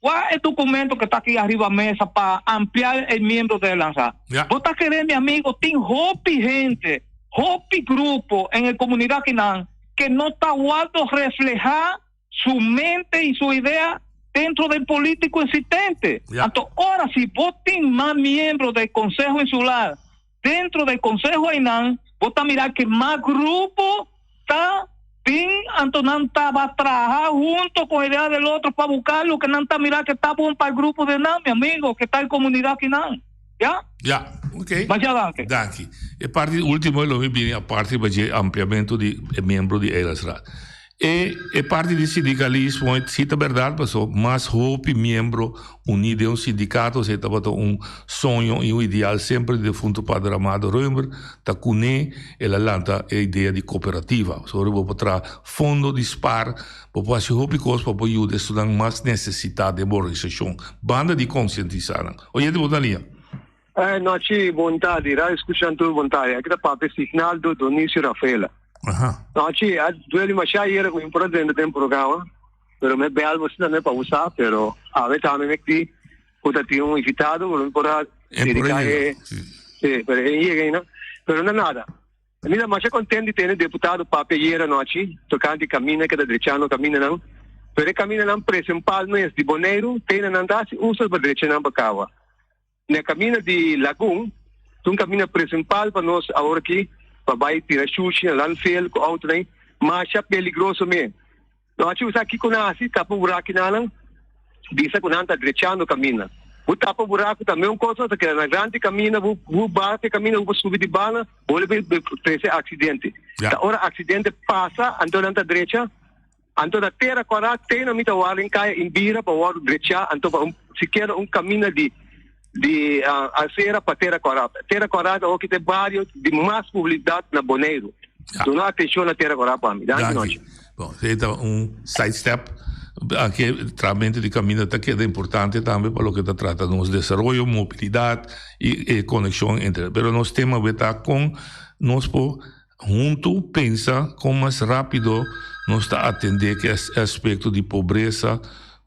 Speaker 3: Wak e dokumento ke ta aki ariba mesa pa ampliá e miembro ta e lansá. Ya. Bo ta keré, mi amigo, tin hopi hende, hopi grupo en e komunidat akinan ke no ta wòrdu reflehá su mente i su idea dentro den polítiko esistente. Ya. Anto ora si bo tin mas miembro den konseho insular, Dentro dje konseho einan bo ta mirá ke mas grupo ta bin anto nan tabata traha hunto kon e de al el otro pa buká loke nan ta mirá ke ta bon pa e grupo dje nan, mi amigo, ke ta e komunidat kinan. Ya? Ya.
Speaker 1: Ok. Mashá danki. Danki.
Speaker 3: E parti
Speaker 1: ultimo ei lo mi bini a parti riba dje ampliamentu di e miembro di Eilandsraad. E e parti di sindikalismo si ta bèrdat paso mas hopi miembro uní den un sindikato esei tabata un soño i un ideal semper defuntu Pader Amado Reumer ta kuné el a lanta e idea di koperativa pasobra ora bo por traha fondo di spar bo por hasi hopi kos pa por yuda e estudiannan mas nesesitat den bo organisashon banda di konsientisá nan oyente bo ta lia. Ai nochi
Speaker 4: bonta di ra escuchan tur bonta ya ki ta pape Signaldo Donicio Rafaela. Aha. Nochi a dueli masha yera ku por atende den programa pero me bel bo sinta me pa usa pero awe tami me di ku ta tin un invitado pero mi por a dedica e si pero e yega ina pero na nada mi ta masha content di tene deputado pape yera nochi tocante camina ke ta drechando caminanan pero e caminanan presempal mes di Boneiru teinananta hasi usa pa drecha nan pa caba. Na camina di Lagun, ta un camina principal pa nos awor aki, pa bay tira shushi na landfill cu autonan, masha peligroso mi. Lo haci usar kico nan haci, tapa burakinannan, bisa cu nan ta drechando camina. Bo tapa buraku tambe un cosa, ta keda nagrandi camina, bo baha te camina, bo subi di banda, bo wol a trece accidente. Ta ora accidente pasa, anto nan ta drecha, Anto na tera kwará teno mi ta warda in kaya in bira pa wordo drechá anto pa un sikiera un kaminda di di asera pa tera kwará. Tera kwará ta hoki ta e bario di mas publisidat na Boneiru. Duna atenshon na tera kwará pa mi. Danki nochi. Bon, e
Speaker 1: ta un side step. Aki trahamentu di kaminda ta keda importante tambe pa loke ta trata nos desaroyo, mobilidat i e konekshon entre. Pero nos tema awe ta kon nos por Huntu pensa kon mas rápido nos ta atendé ku e aspekto di pobresa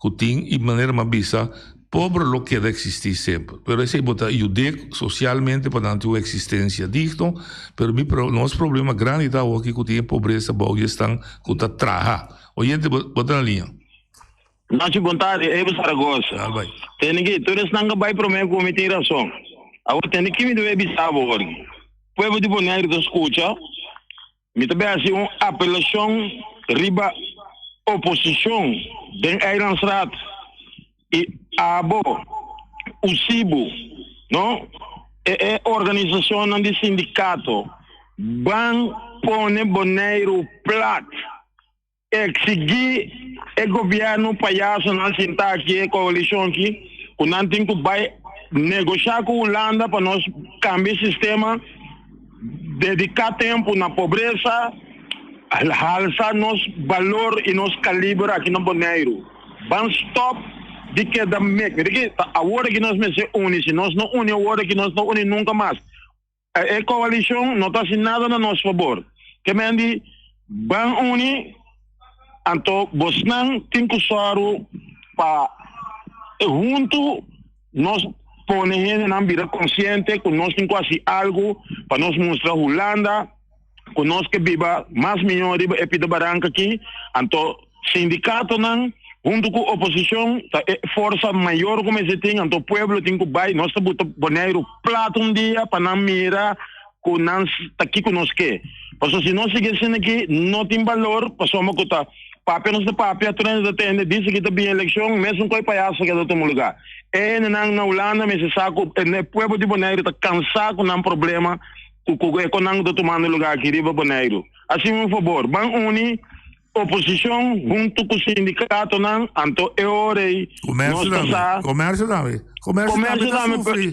Speaker 1: ku tin i manera m'a bisa, pober lo keda eksistí semper. Pero esei bo ta yud'é sosialmente pa nan tin un eksistensia digno, pero mi pro, nos problema grandi ta awoki ku tin e pobresa bou di esnan ku ta traha. Oyente, bo ta na liña. Nachi
Speaker 5: Bontade, Evo Zaragoza. Tene ki, tur esnan ka bai prome ku mi tin rason. Awor tene ki mi debe bisa bo horin. Pueblo di Bonaire ta skucha, mi ta bai hasi un apelashon riba oposishon den Eilandsraad i abo, usibu, no e e organisashonnan di sindikato ban pone Boneiru plat. E exigí e gobièrnu payasonan sintá aki, e koalishon ki, ku nan tin ku bai negoshá ku Hulanda pa nos kambia e sistema, dediká tempu na pobresa, halsa nos balor i nos kaliber aki na Boneiru. Ban stòp di keda mekne. Di ke ta awor aki nos mester uni? Si nos no uni awor aki, nos no uni nunka mas. E coalicion no ta haci nada na nos fabor. Kemen di Ban uni, anto bosnan tin cu sòru pa huntu nos pone hendenan bira consciente cu nos tin cu haci algo pa nos mustra Hulanda, ku nos ke biba mas mihó riba e pida baranka aki, anto sindikatonan huntu ku oposishon ta e forsa mayor ku mester tin, anto pueblo tin ku bai. Nos ta buta Boneiru plat un dia pa nan mira ku nan ta kiko nos ke. Pasobra si nos sigui asina aki no tin balor, pasobra ku ta papia nos ta papia, tur hende ta tende di sigui ta bin elekshon mesun ku e payasa ke lo ta omologá. E hendenan na Hulanda mester sa ku e pueblo di Boneiru ta kansá ku nan problema, cu cu e conan cu ta tumando lugar aki riba Boneiru. Asina un fabor, ban uni oposicion hunto cu sindicatonan anto e ora ey nos ta sa.
Speaker 1: Comercio tambe, comercio tambe ta sufri.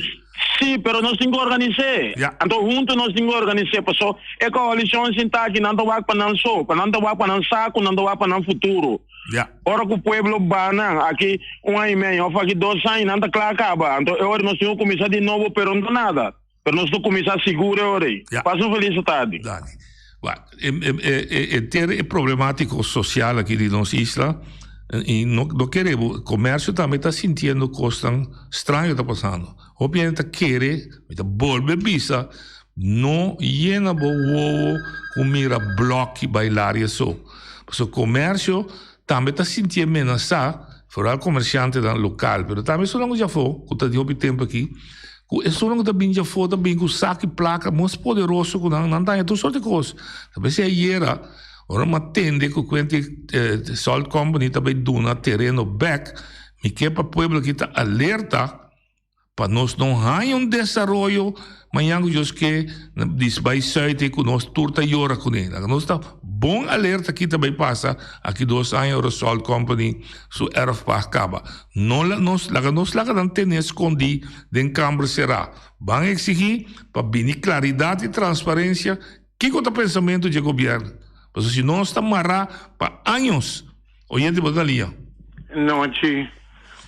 Speaker 1: Si,
Speaker 5: pero nos tin cu organise. Anto hunto nos tin cu organise paso e coalicion sin ta aki nan ta wak pa nan so, pa nan ta wak pa nan sa cu nan ta wak pa nan futuro. Ora cu pueblo ba nan aki un aña y medio of aki dos aña nan ta cla caba, anto e ora nos tin cu cuminsa di nobo pero no ta nada. pero nos lo cuminsa sigur e ora ey. Pasa un felice tarde. Dale. Wa, e, e, e, e,
Speaker 1: enter e problemático social aki di nos isla, y no, no kere, comercio tambe ta sintiendo kosnan straño ta pasando. Hopi hende ta kere, mi ta bolbe bisa, no yena bo wowo ku mira blòki bai laria so. Pasobra comercio Tambe ta sintié menasá forá komershantenan lokal, pero tambe esonnan ku djafó ku ta di hopi tempu akí, ku esonnan ku ta bini djafó ta bini ku sak i plaka mos poderoso ku nan, nan daña tur sort di kos. Ta mester ayera, ora mi a tende ku kuent di e salt company ta bai duna tereno bèk, mi ke pa pueblo akí ta alerta, Pa nos no haña un desaroyo mañan cu Dios ke di bai suite cu nos tur ta yora cu ne. Nos ta bon alerta ki ta bai pasa aki dos aña ora Salt Company su erf pag caba. No laga nos laga nos laga nan tene scondi den camber cera. Ban exigi pa bini claridad y transparencia kico ta pensamento dje Gobierno. Pasobra si no nos ta mara pa años. Oye di bo Dalia. Nochi,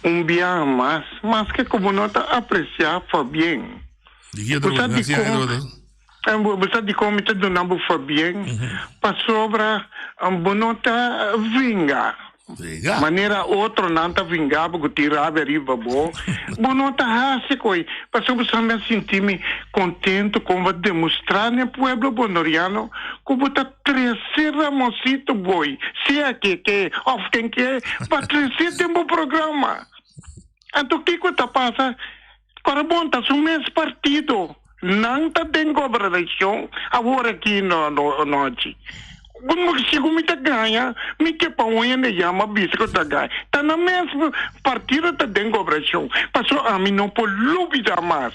Speaker 6: un biaha mas, maske ku bo no ta apresiá fabien. Di ki otro manera? Hasié otro manera. Bo sa dikon mi ta duna bo fabien? Pasobra bo no ta vingá, manera otronan ta vingá bo ku tin rabia riba bo. Bo no ta hasi koe, pasobra bo sa mi a sinti mi kontentu kon bo a demostrá den pueblo bondoriano ku bo ta. Trece Ramosito boy sea ke ke of ken ke pa trece den bo programa anto kiko ta pasa ora bon ta su mes partido nan ta den gobernacion awor aki no no nochi si ku mi ta gaña mi ke pa un hende yama bisa ku ta gaña ta na mes partido ta den gobernacion pasobra ami no por lubida mas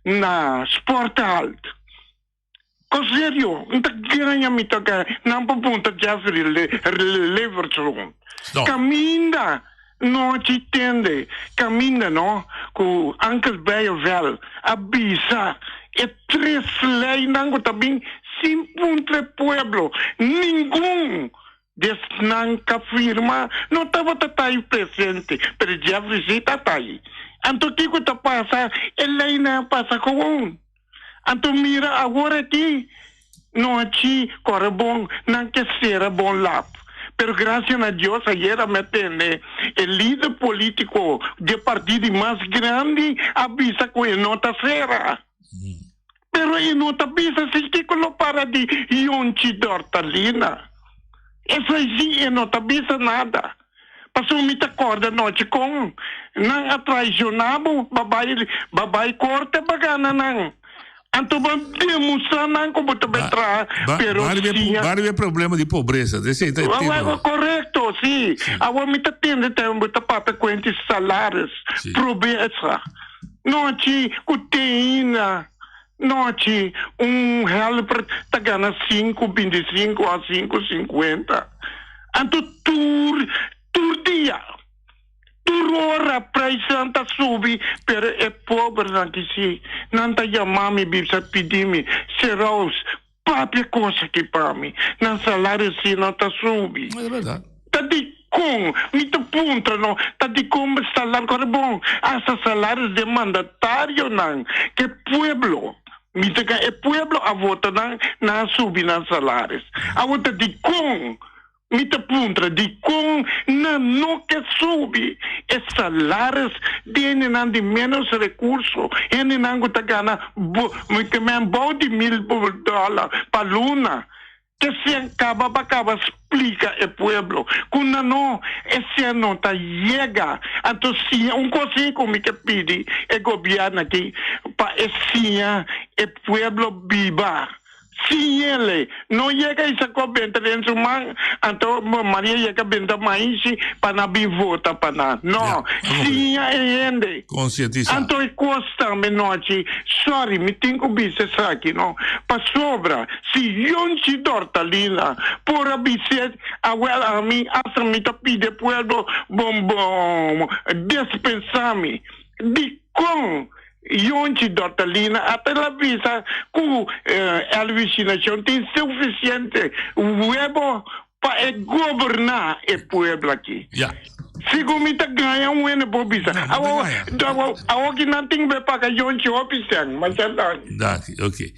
Speaker 6: na sport ta alto. Con serio, nta gaña mi toca nan pa punta Jeffrey Leverdloom. Caminda nochi tende, caminda no cu Uncle Beyo Vel a bisa e tres leynan cu ta bin sin puntra e pueblo, ningun di esnan ca firma, no tabata tayi presente, pero Jeffrey si ta tayi. Anto kico ta pasa? E leynan a pasa gewoon. Anto mira awor aki nochi kore bon nan ke sera bon lap pero grasia na Dios ayera mi a tende e lider politico de parti di mas grandi a bisa ku e no ta sera pero e no ta bisa si kiko lo para di Yonchi Dortalina esei si e no ta bisa nada. Pasobra mi ta kòrda nochi kon nan a traishoná bo, bo bai bo bai korta bagana nan. Anto bo a demustrá nan ku bo ta bai traha, pero siña. Bari bo e
Speaker 1: problema di pobresa, ta esei ta e titlo. Korekto,
Speaker 6: si. Awor mi ta tende ta bo ta papia kuent di salaris, probesa. Nochi ku teina. Nochi un helper ta gana sinku bintisinku a sinku sinkuenta. Anto tur tur dia, tur ora praisnan ta subi, pero e pobernan ki si, nan ta yama mi bisa pidi mi, Seraus, Papia cosa ki pa mi nan salario asina ta subi. No e verdad. Ta
Speaker 1: dikon
Speaker 6: mi ta puntra no ta dikon bo salar kore bon hasta salarios den mandatario nan ke pueblo mi ta ka e pueblo a vota nan nan a subi nan salaris awor ta dikon Mi ta puntra dikon nan no ke subi e salaris di hendenan di ménos rekurso, hendenan ku ta gana men bou di mil dòla pa luna. Kesen kaba pa kaba splika e pueblo ku nan no esen no ta yega. Anto siña un kosnan ku mi ke pidi e gobièrnu aki pa e siña e pueblo biba. Si Yele no yega i sacó benta den su man, anto Maria yega benta maisi pa na bin vota pa na. No, siña e hende. Concientisa. Anto
Speaker 1: e cos tambe
Speaker 6: nochi, sorry, mi tin cu bisti esaki, no. Pasobra, si Yonchi Dorta Linda por a bis'é, awel ami, hasta mi ta pide pueblo, bo, bo, despensa mi. Dicon Yunchi Dortalina a ta la bisa cu Elvicinacion tin suficiente webo pa e goberna e pueblo aki. Segun mi ta gaña un hende bo bisa. Awo ki nan tin be paga yunchi hopi cen. Masiado danki. Danki, oke.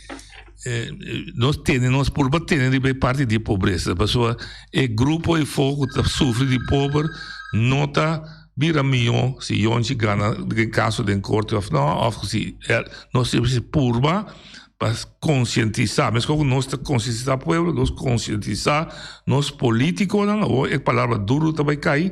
Speaker 1: Nos tene, nos purba tene riba e parti di pobresa. Pasobra e grupo e fo cu ta sufri di pober no ta. Bira mihó si yonchi gana e kaso den korte òf nò, òf ku si nos tin mester purba pa konsientisá. Meskos ku nos ta konsientisá pueblo, nos konsientisá nos polítikonan, awor e palabra duru ta bai kai,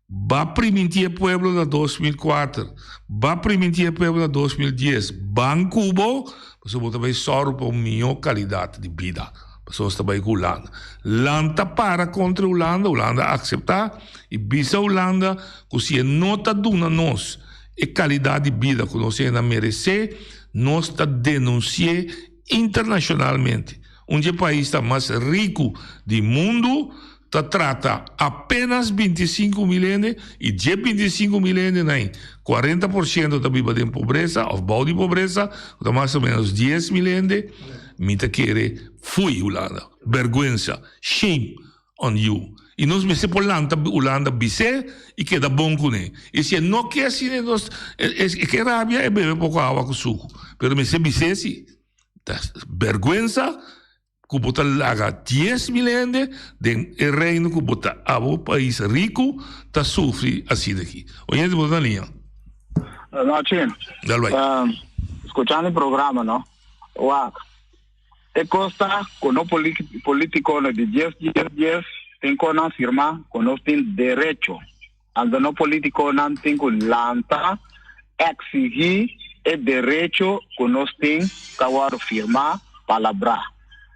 Speaker 1: Ba primintí e pueblo na dos mil kuater, ba primintí e pueblo na dos mil dies, ban ku bo, pasobra bo ta bai sòru pa un mihó kalidat di bida. Pasobra nos ta bai ku Ulanda. Land ta para kontra Ulanda, Ulanda akseptá i bisa Ulanda ku si e no ta duna nos e kalidat di bida ku nos ayina meresé, nos ta denunsi'é internashonalmente. Un dje pais ta mas riku di mundu. ta trata apenas binti i sinku mil hende i dje binti i sinku mil hende na ei kuarenta por shento ta biba den pobresa òf bou di pobresa ku ta mas o menos dies mil hende mi ta kere fui Hulanda bèrgwensa shame on you i nos mester por lanta Hulanda bisé i keda bon kuné i si e no ke asi den nos e ke rabia e bebe poko awa ku suku pero mester bisé si ta bèrgwensa. ku bo ta laga dies mil hende den e reino ku bo ta a bo pais riku ta sufri asina aki. Oyente, bo ta na liña? Buenas
Speaker 3: noches. Dal bai. Ta skuchando e programa, no? Wak, e kos ta ku nos polítikonan di dies, dies, dies, tin kon nan firmá ku nos tin derecho. Anto nos politiconan tin cu lanta exigi e derecho cu nos tin ca worde firma, palabra.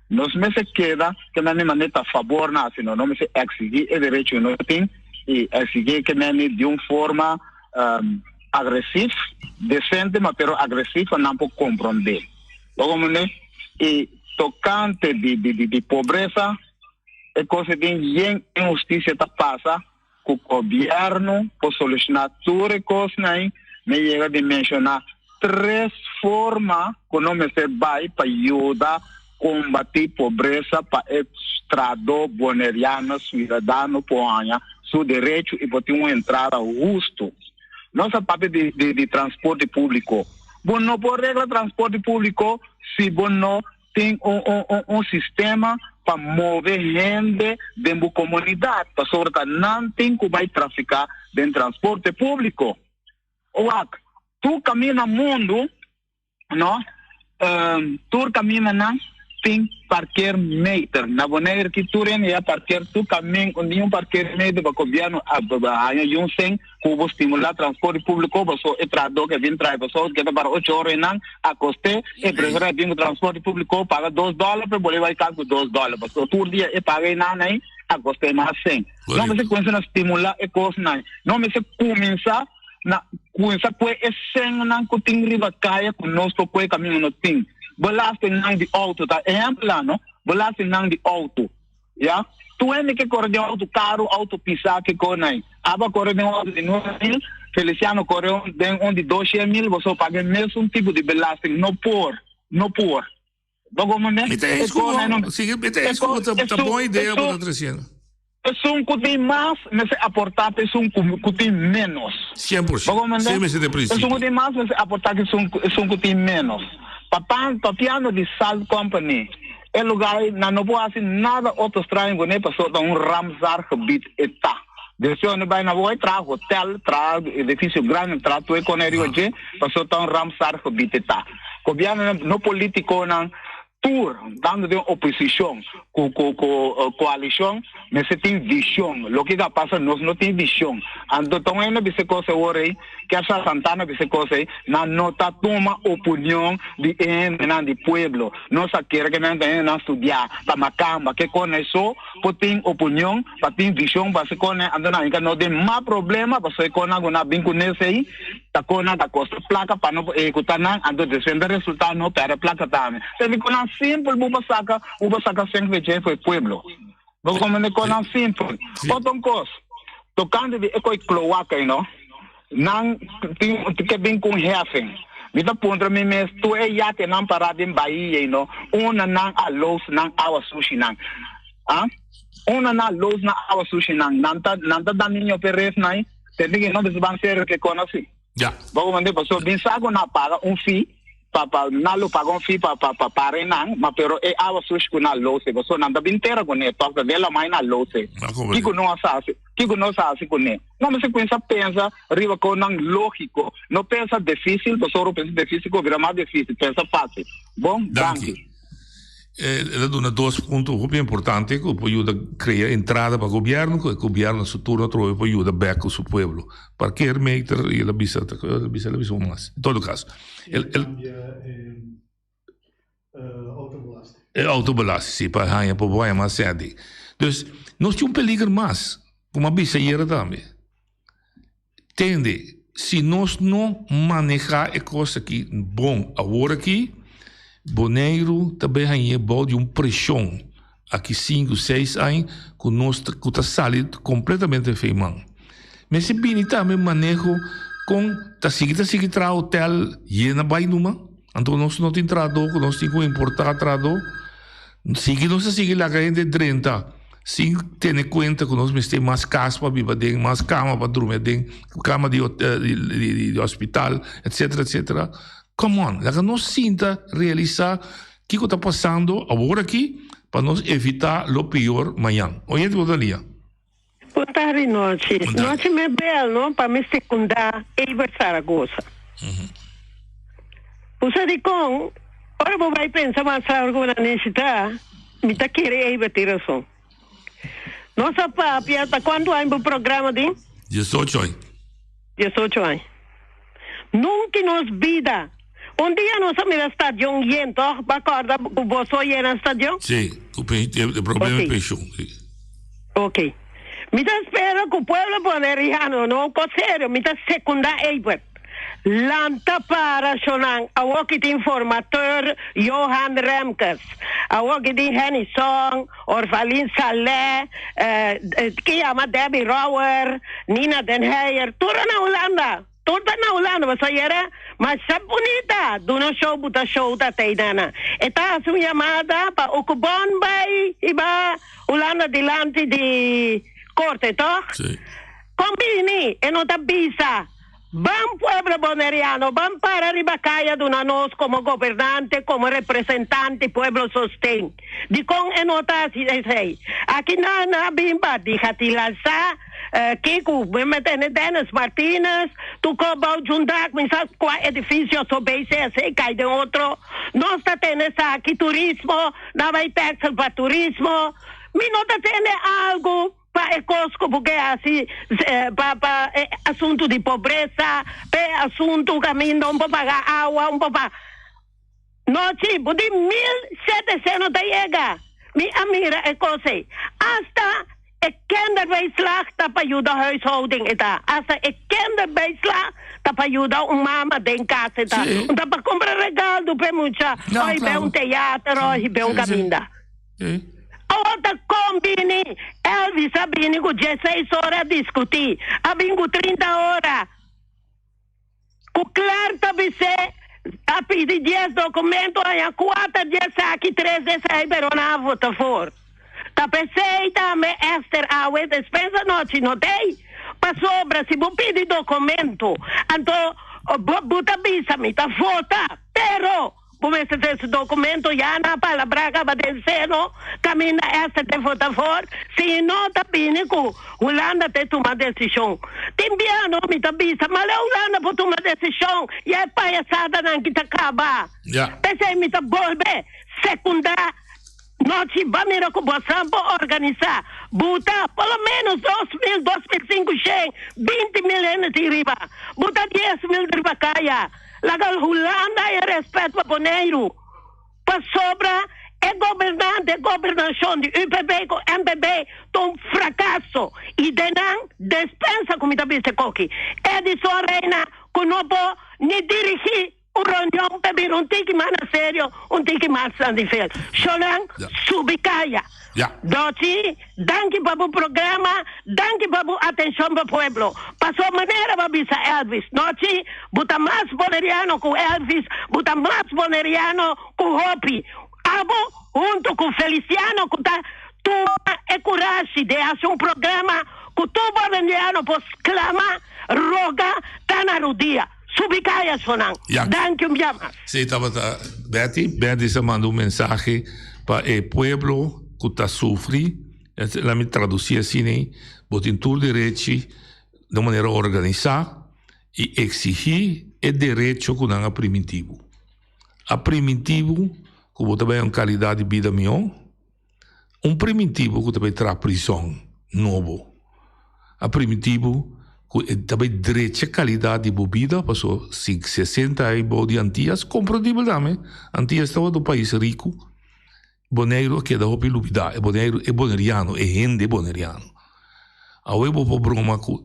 Speaker 3: Nos mester keda ke mami mane ta fabor na asino. Nos mester exigi e derecho cu nos tin y exigi ke mami di un forma agresif, decente ma pero agresif pa nan por compronde. Oga mane y tocante di pobresa e cos e tin yen inhusticia ta pasa. cu gobierno por soluciona tur e cosnan ey, me yega di menciona tres forma cu nos mester bay pa yuda combati pobreza pa e strado boneriano ciudadano por haya su derecho y por tin un entrada husto. Nos a papia di di di transporte publico. Bo no por regla transporte publico si bo no tin un un un un sistema pa move hende den bo komunidat pasobra ta nan tin ku bai trafiká den transporte públiko. Wak, tur kaminda mundu, no, tur kamindanan tin parkeermeter. Na Boneiru aki tur hende ya parkeer tur kamin, niun parkeermeter pa gobièrnu a haña yunsen. Cu bo stimula transporte publico paso e trahador que a bini traha paso que ta para ocho ora enan a coste e presor a bini cu transporte publico paga dos dollar pe boli bay cas cu dos dollar paso tur dia e paga enan ay a coste mas cen. No mester cuminsa na stimula e cosnan no mester cuminsa na cuminsa cue e cennan cu tin riba caya cu nos por cue caminho no tin belastingnan di auto ta ehemplo la no belastingnan di auto. Ya. Tu hende ke kore den auto, karu, auto pisá, ke kore nai. Aba kore den un auto di nuebe mil, Feliciano kore un den un di doshe mil, bo so paga e mesun tipo di belasting. No por. No por. Bo komprende?
Speaker 1: Mi ta eens ku bo. Si, mi ta eens ku bo. Ta ta bon idea bo ta tresiendo. Esun ku
Speaker 3: tin mas mester aportá pa esun ku ku tin ménos. Sien por siento. Bo komprende?
Speaker 1: Así mester den principio. Esun ku tin mas mester aportá
Speaker 3: ku esun ku tin ménos. Papá, papiano di Salt Company. E lugai nan no por hasi nada otro straño guné paso ta un Ramsar gebied e ta. Direccionnan bai na woi traha hotel, traha edificio grandi, traha tue cone riba dje paso ta un Ramsar gebied e ta. Gobiernonan, no politiconan, tur tando den oposicion cu cu coalicion mester tin vision. Loke ke a pasa nos no tin vision. Anto ta un hende a bisa e cos awor ey. Kefra Santana di se kos ei, Nan no ta tuma opunion di e hendenan di pueblo. Nos a kere ku nan ta hendenan studiá pa nan kamba ke kon nan so por tin opunion, pa tin vishon pa haci kon nan anto nan yega nos den mas problema pasobra kon nan ku nan a bin ku nes ei ta kon nan ta kosta plaka pa no por ehekutá nan anto despues nan ta resultá no pèrdè plaka tambe. Esei kon nan simpel bo por saka bo por saka sèn ku e djei for e pueblo. Bo come ne conan simpel. Oton cos, tocando di e coi cloaca y no, nan tin ke bin cu un heffen. Mi ta puntra mi mes, tur e yatenan para den bahia y no, una nan a loos nan awa sushi nan? Ah? Una nan a loos nan awa sushi nan? Nan ta, nan ta da niño pe ref nan y te teken no bisa ban serio ke conan si. Ya. Bo a comprende
Speaker 1: paso bin
Speaker 3: sa cu na paga un fee pa pa na lo paga un fee pa pa pa pare nan ma pero e awa sush cu na lose paso nan ta bin tera cu ne toc ta de lama y na lose Bo a comprende. kico no a sa haci kico no sa haci cu ne no mi si cuinsa pensa riba conan logico no pensa dificil pasobra pensa dificil cu a bira mas dificil pensa facil bon danki. El
Speaker 1: a duna dos punto hopi importante cu por yuda crea entrada pa gobierno cu e gobierno a su turno atrobe por yuda bek cu su pueblo. Parker meter y el a bisa ta cu el a bisa el a bisa un mas. En todo caso. El cambia e autobelasting. E autobelasting si pa haya pa bo haya mas cedi. Dus nos tin un peliger mas cu mi a bisa ayera tambe. Tende, si nos no maneha e cos aki bon awor aki, Boneiru ta bay hañ'é bao di un preshon aki sinku, seis añ cu nos ta cu ta sali completamente feyman. Mester bini tambe maneho con ta sigui ta sigui traha hotel yena bay numa. Anto nos no tin trahadó ku nos tin ku importá trahadó. Sigui nos a sigui laga hende drenta sin tene kuenta ku nos mester mas kas pa biba aden, mas kama pa drumi aden, kama di di hospital etcetera etcetera. Come on laga nos sinta realisá kiko ta pasando awor aki pa nos evitá lo peor mañan. Oye hende ku ta lia. Punta
Speaker 7: di nochi. Nochi me bel no pa mester kunda Ever Zaragoza. Bo sa dikon? Ora bo bai pensa mas largo bo na nesita mi ta kere Ever tin rason. Nos a papia ta kuantu aña bo programa tin? Diesocho aña.
Speaker 1: Diesocho
Speaker 7: aña. Nunca i nos bida. Un dia nos a mira stadion yen, tòg? Bo a kòrda ku boso a yena stadion? Sí, ku p'e e
Speaker 1: problema di penshon, sí. Oke.
Speaker 7: Mi ta spera ku pueblo por e Rihanna, no, kos serio, mi ta sekundá ei puet. Lanta para shonan, awor ki tin formateur Johan Remkes, awor ki tin Henny Song, Orvalin Salè, ke yama Debbie Rouwer, Nina den Heyer, tur a na Hulanda, tur ta na Hulanda, boso yera masha bunita, duna un show buta show ta tei nana, e ta hasi un yamada pa oku bon bai hiba Hulanda dilanti di korte, tog? Si.
Speaker 1: Kon
Speaker 7: bini, e no ta bisa. Ban pueblo Boneriano, ban para riba kai a duna nos como gobernante, como representante pueblo sosten. Dicon e no ta haci esey? Aki na na bimba di Hatilhalsa, ke cu mi me tene Dennis Martinez, Tuco Bou Jundak, mi sa cua edificio so bay si esey cay den otro. Nos ta tene esaki, turismo, na bay taxes pa turismo. Mi no ta tene algo. Pa e kos ku bo ke hasi, pa pa e asuntu di pobresa, pa e asuntu kaminda un por paga awa, un por pa. Nochi bo di mil sete seno ta yega, mi a mira e kos ei. Asta e kinderbijslag ta pa yuda huishouding e ta. Asta e kinderbijslag ta pa yuda un mama den kas e ta. Un ta pa kumpra
Speaker 1: regaldo
Speaker 7: pa e mucha, oi be un
Speaker 1: teater
Speaker 7: oi be un kaminda.
Speaker 1: Hm. Awor ta
Speaker 7: con bini Elvis a bini cu dieseis ora a discuti a bin cu trinta ora cu clar ta bisé a pidi dies documento haña cuater di esaki tres di esaki pero nan a vota for ta pesey tambe Esther awe despensa nochi no tey pasobra si bo pidi documento anto bo bo ta bisa mi ta vota pero Ku mester ta ese dokumento ya na palabrá kaba den Seno, kaminda ester te vota for, si i no ta bini ku Hulanda te tuma desishon. Tin bia anó mi ta bisa, Male Hulanda por tuma desishon, ya e payasadanan ki ta kaba. P'esei mi ta bolbe sekundá. Nochi ba mira ku bosan por organisá, buta por lo ménos dos mil, dos mil sinkushen, binti mil hende tin riba. Buta dies mil di riba kaya. Laga Hulanda e rèspèt pa Boneiru. Pasobra e gobernante, e gobernashon di UPB ku NPB ta un frakaso i den nan despensa ku mi ta bisa e koki. Edison Reina ku no por ni dirigí. Un reunion ta bira un tiki mas na serio, un tiki mas na nivel. Sholan, subi kaya. Doci, danki pa bo programa, danki pa bo atencion pa pueblo. Pasobra manera bo a bisa Elvis nochi, bo ta mas Boneriano cu Elvis, bo ta mas Boneriano cu hopi. Abo hunto cu Feliciano cu ta tuma e curashi di haci un programa cu tur Boneriano por sclama, roga, ta na rodia. Subi kaya so nan. Ya. Danki un bia mas. Sí, tabata
Speaker 1: Betty. Betty sa manda un mensahe pa e pueblo cu ta sufri. Laat mi traduci asina, Bo tin tur derechi na un manera organisa i exigi e derecho cu nan a primiti bo. A primiti bo cu bo ta bay un calidad di bida mihor. Un primitibu ku ta bai traha prison nobo a primitibu ku e ta bai drecha kalidat di bo bida paso si e senta ai bou di antia es komprendible tambe antia es tabata un pais riku boneiru a keda hopi lubida e boneiru e boneriano e hende boneriano awe bo por broma ku.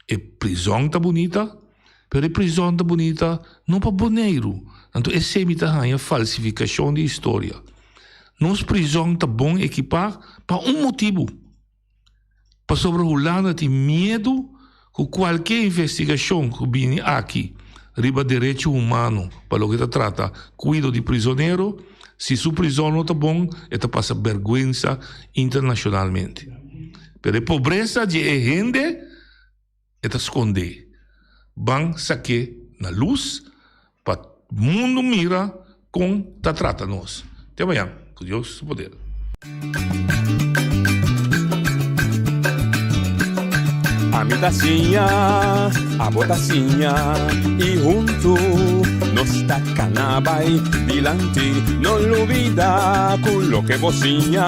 Speaker 1: E prizon ta bunita, pero e prizon ta bunita no pa Boneiru. Anto esei mi ta haña falsifikashon di historia. Nos prizon ta bon ekipá pa un motibu. Pasobra Hulanda tin miedu ku kualke investigashon ku bini aki riba derecho humano pa loke ta trata kuido di prizonero, si su prizon no ta bon e ta pasa bèrgwensa internashonalmente. Pero e pobresa dje e hende e ta skondé. Ban sak'é na lus pa mundu mira kon ta trata nos. Te mañan ku Dios su poder.
Speaker 8: Ami ta siña, abo ta siña i huntu nos ta kana bai dilanti. No lubida ku loke bo siña.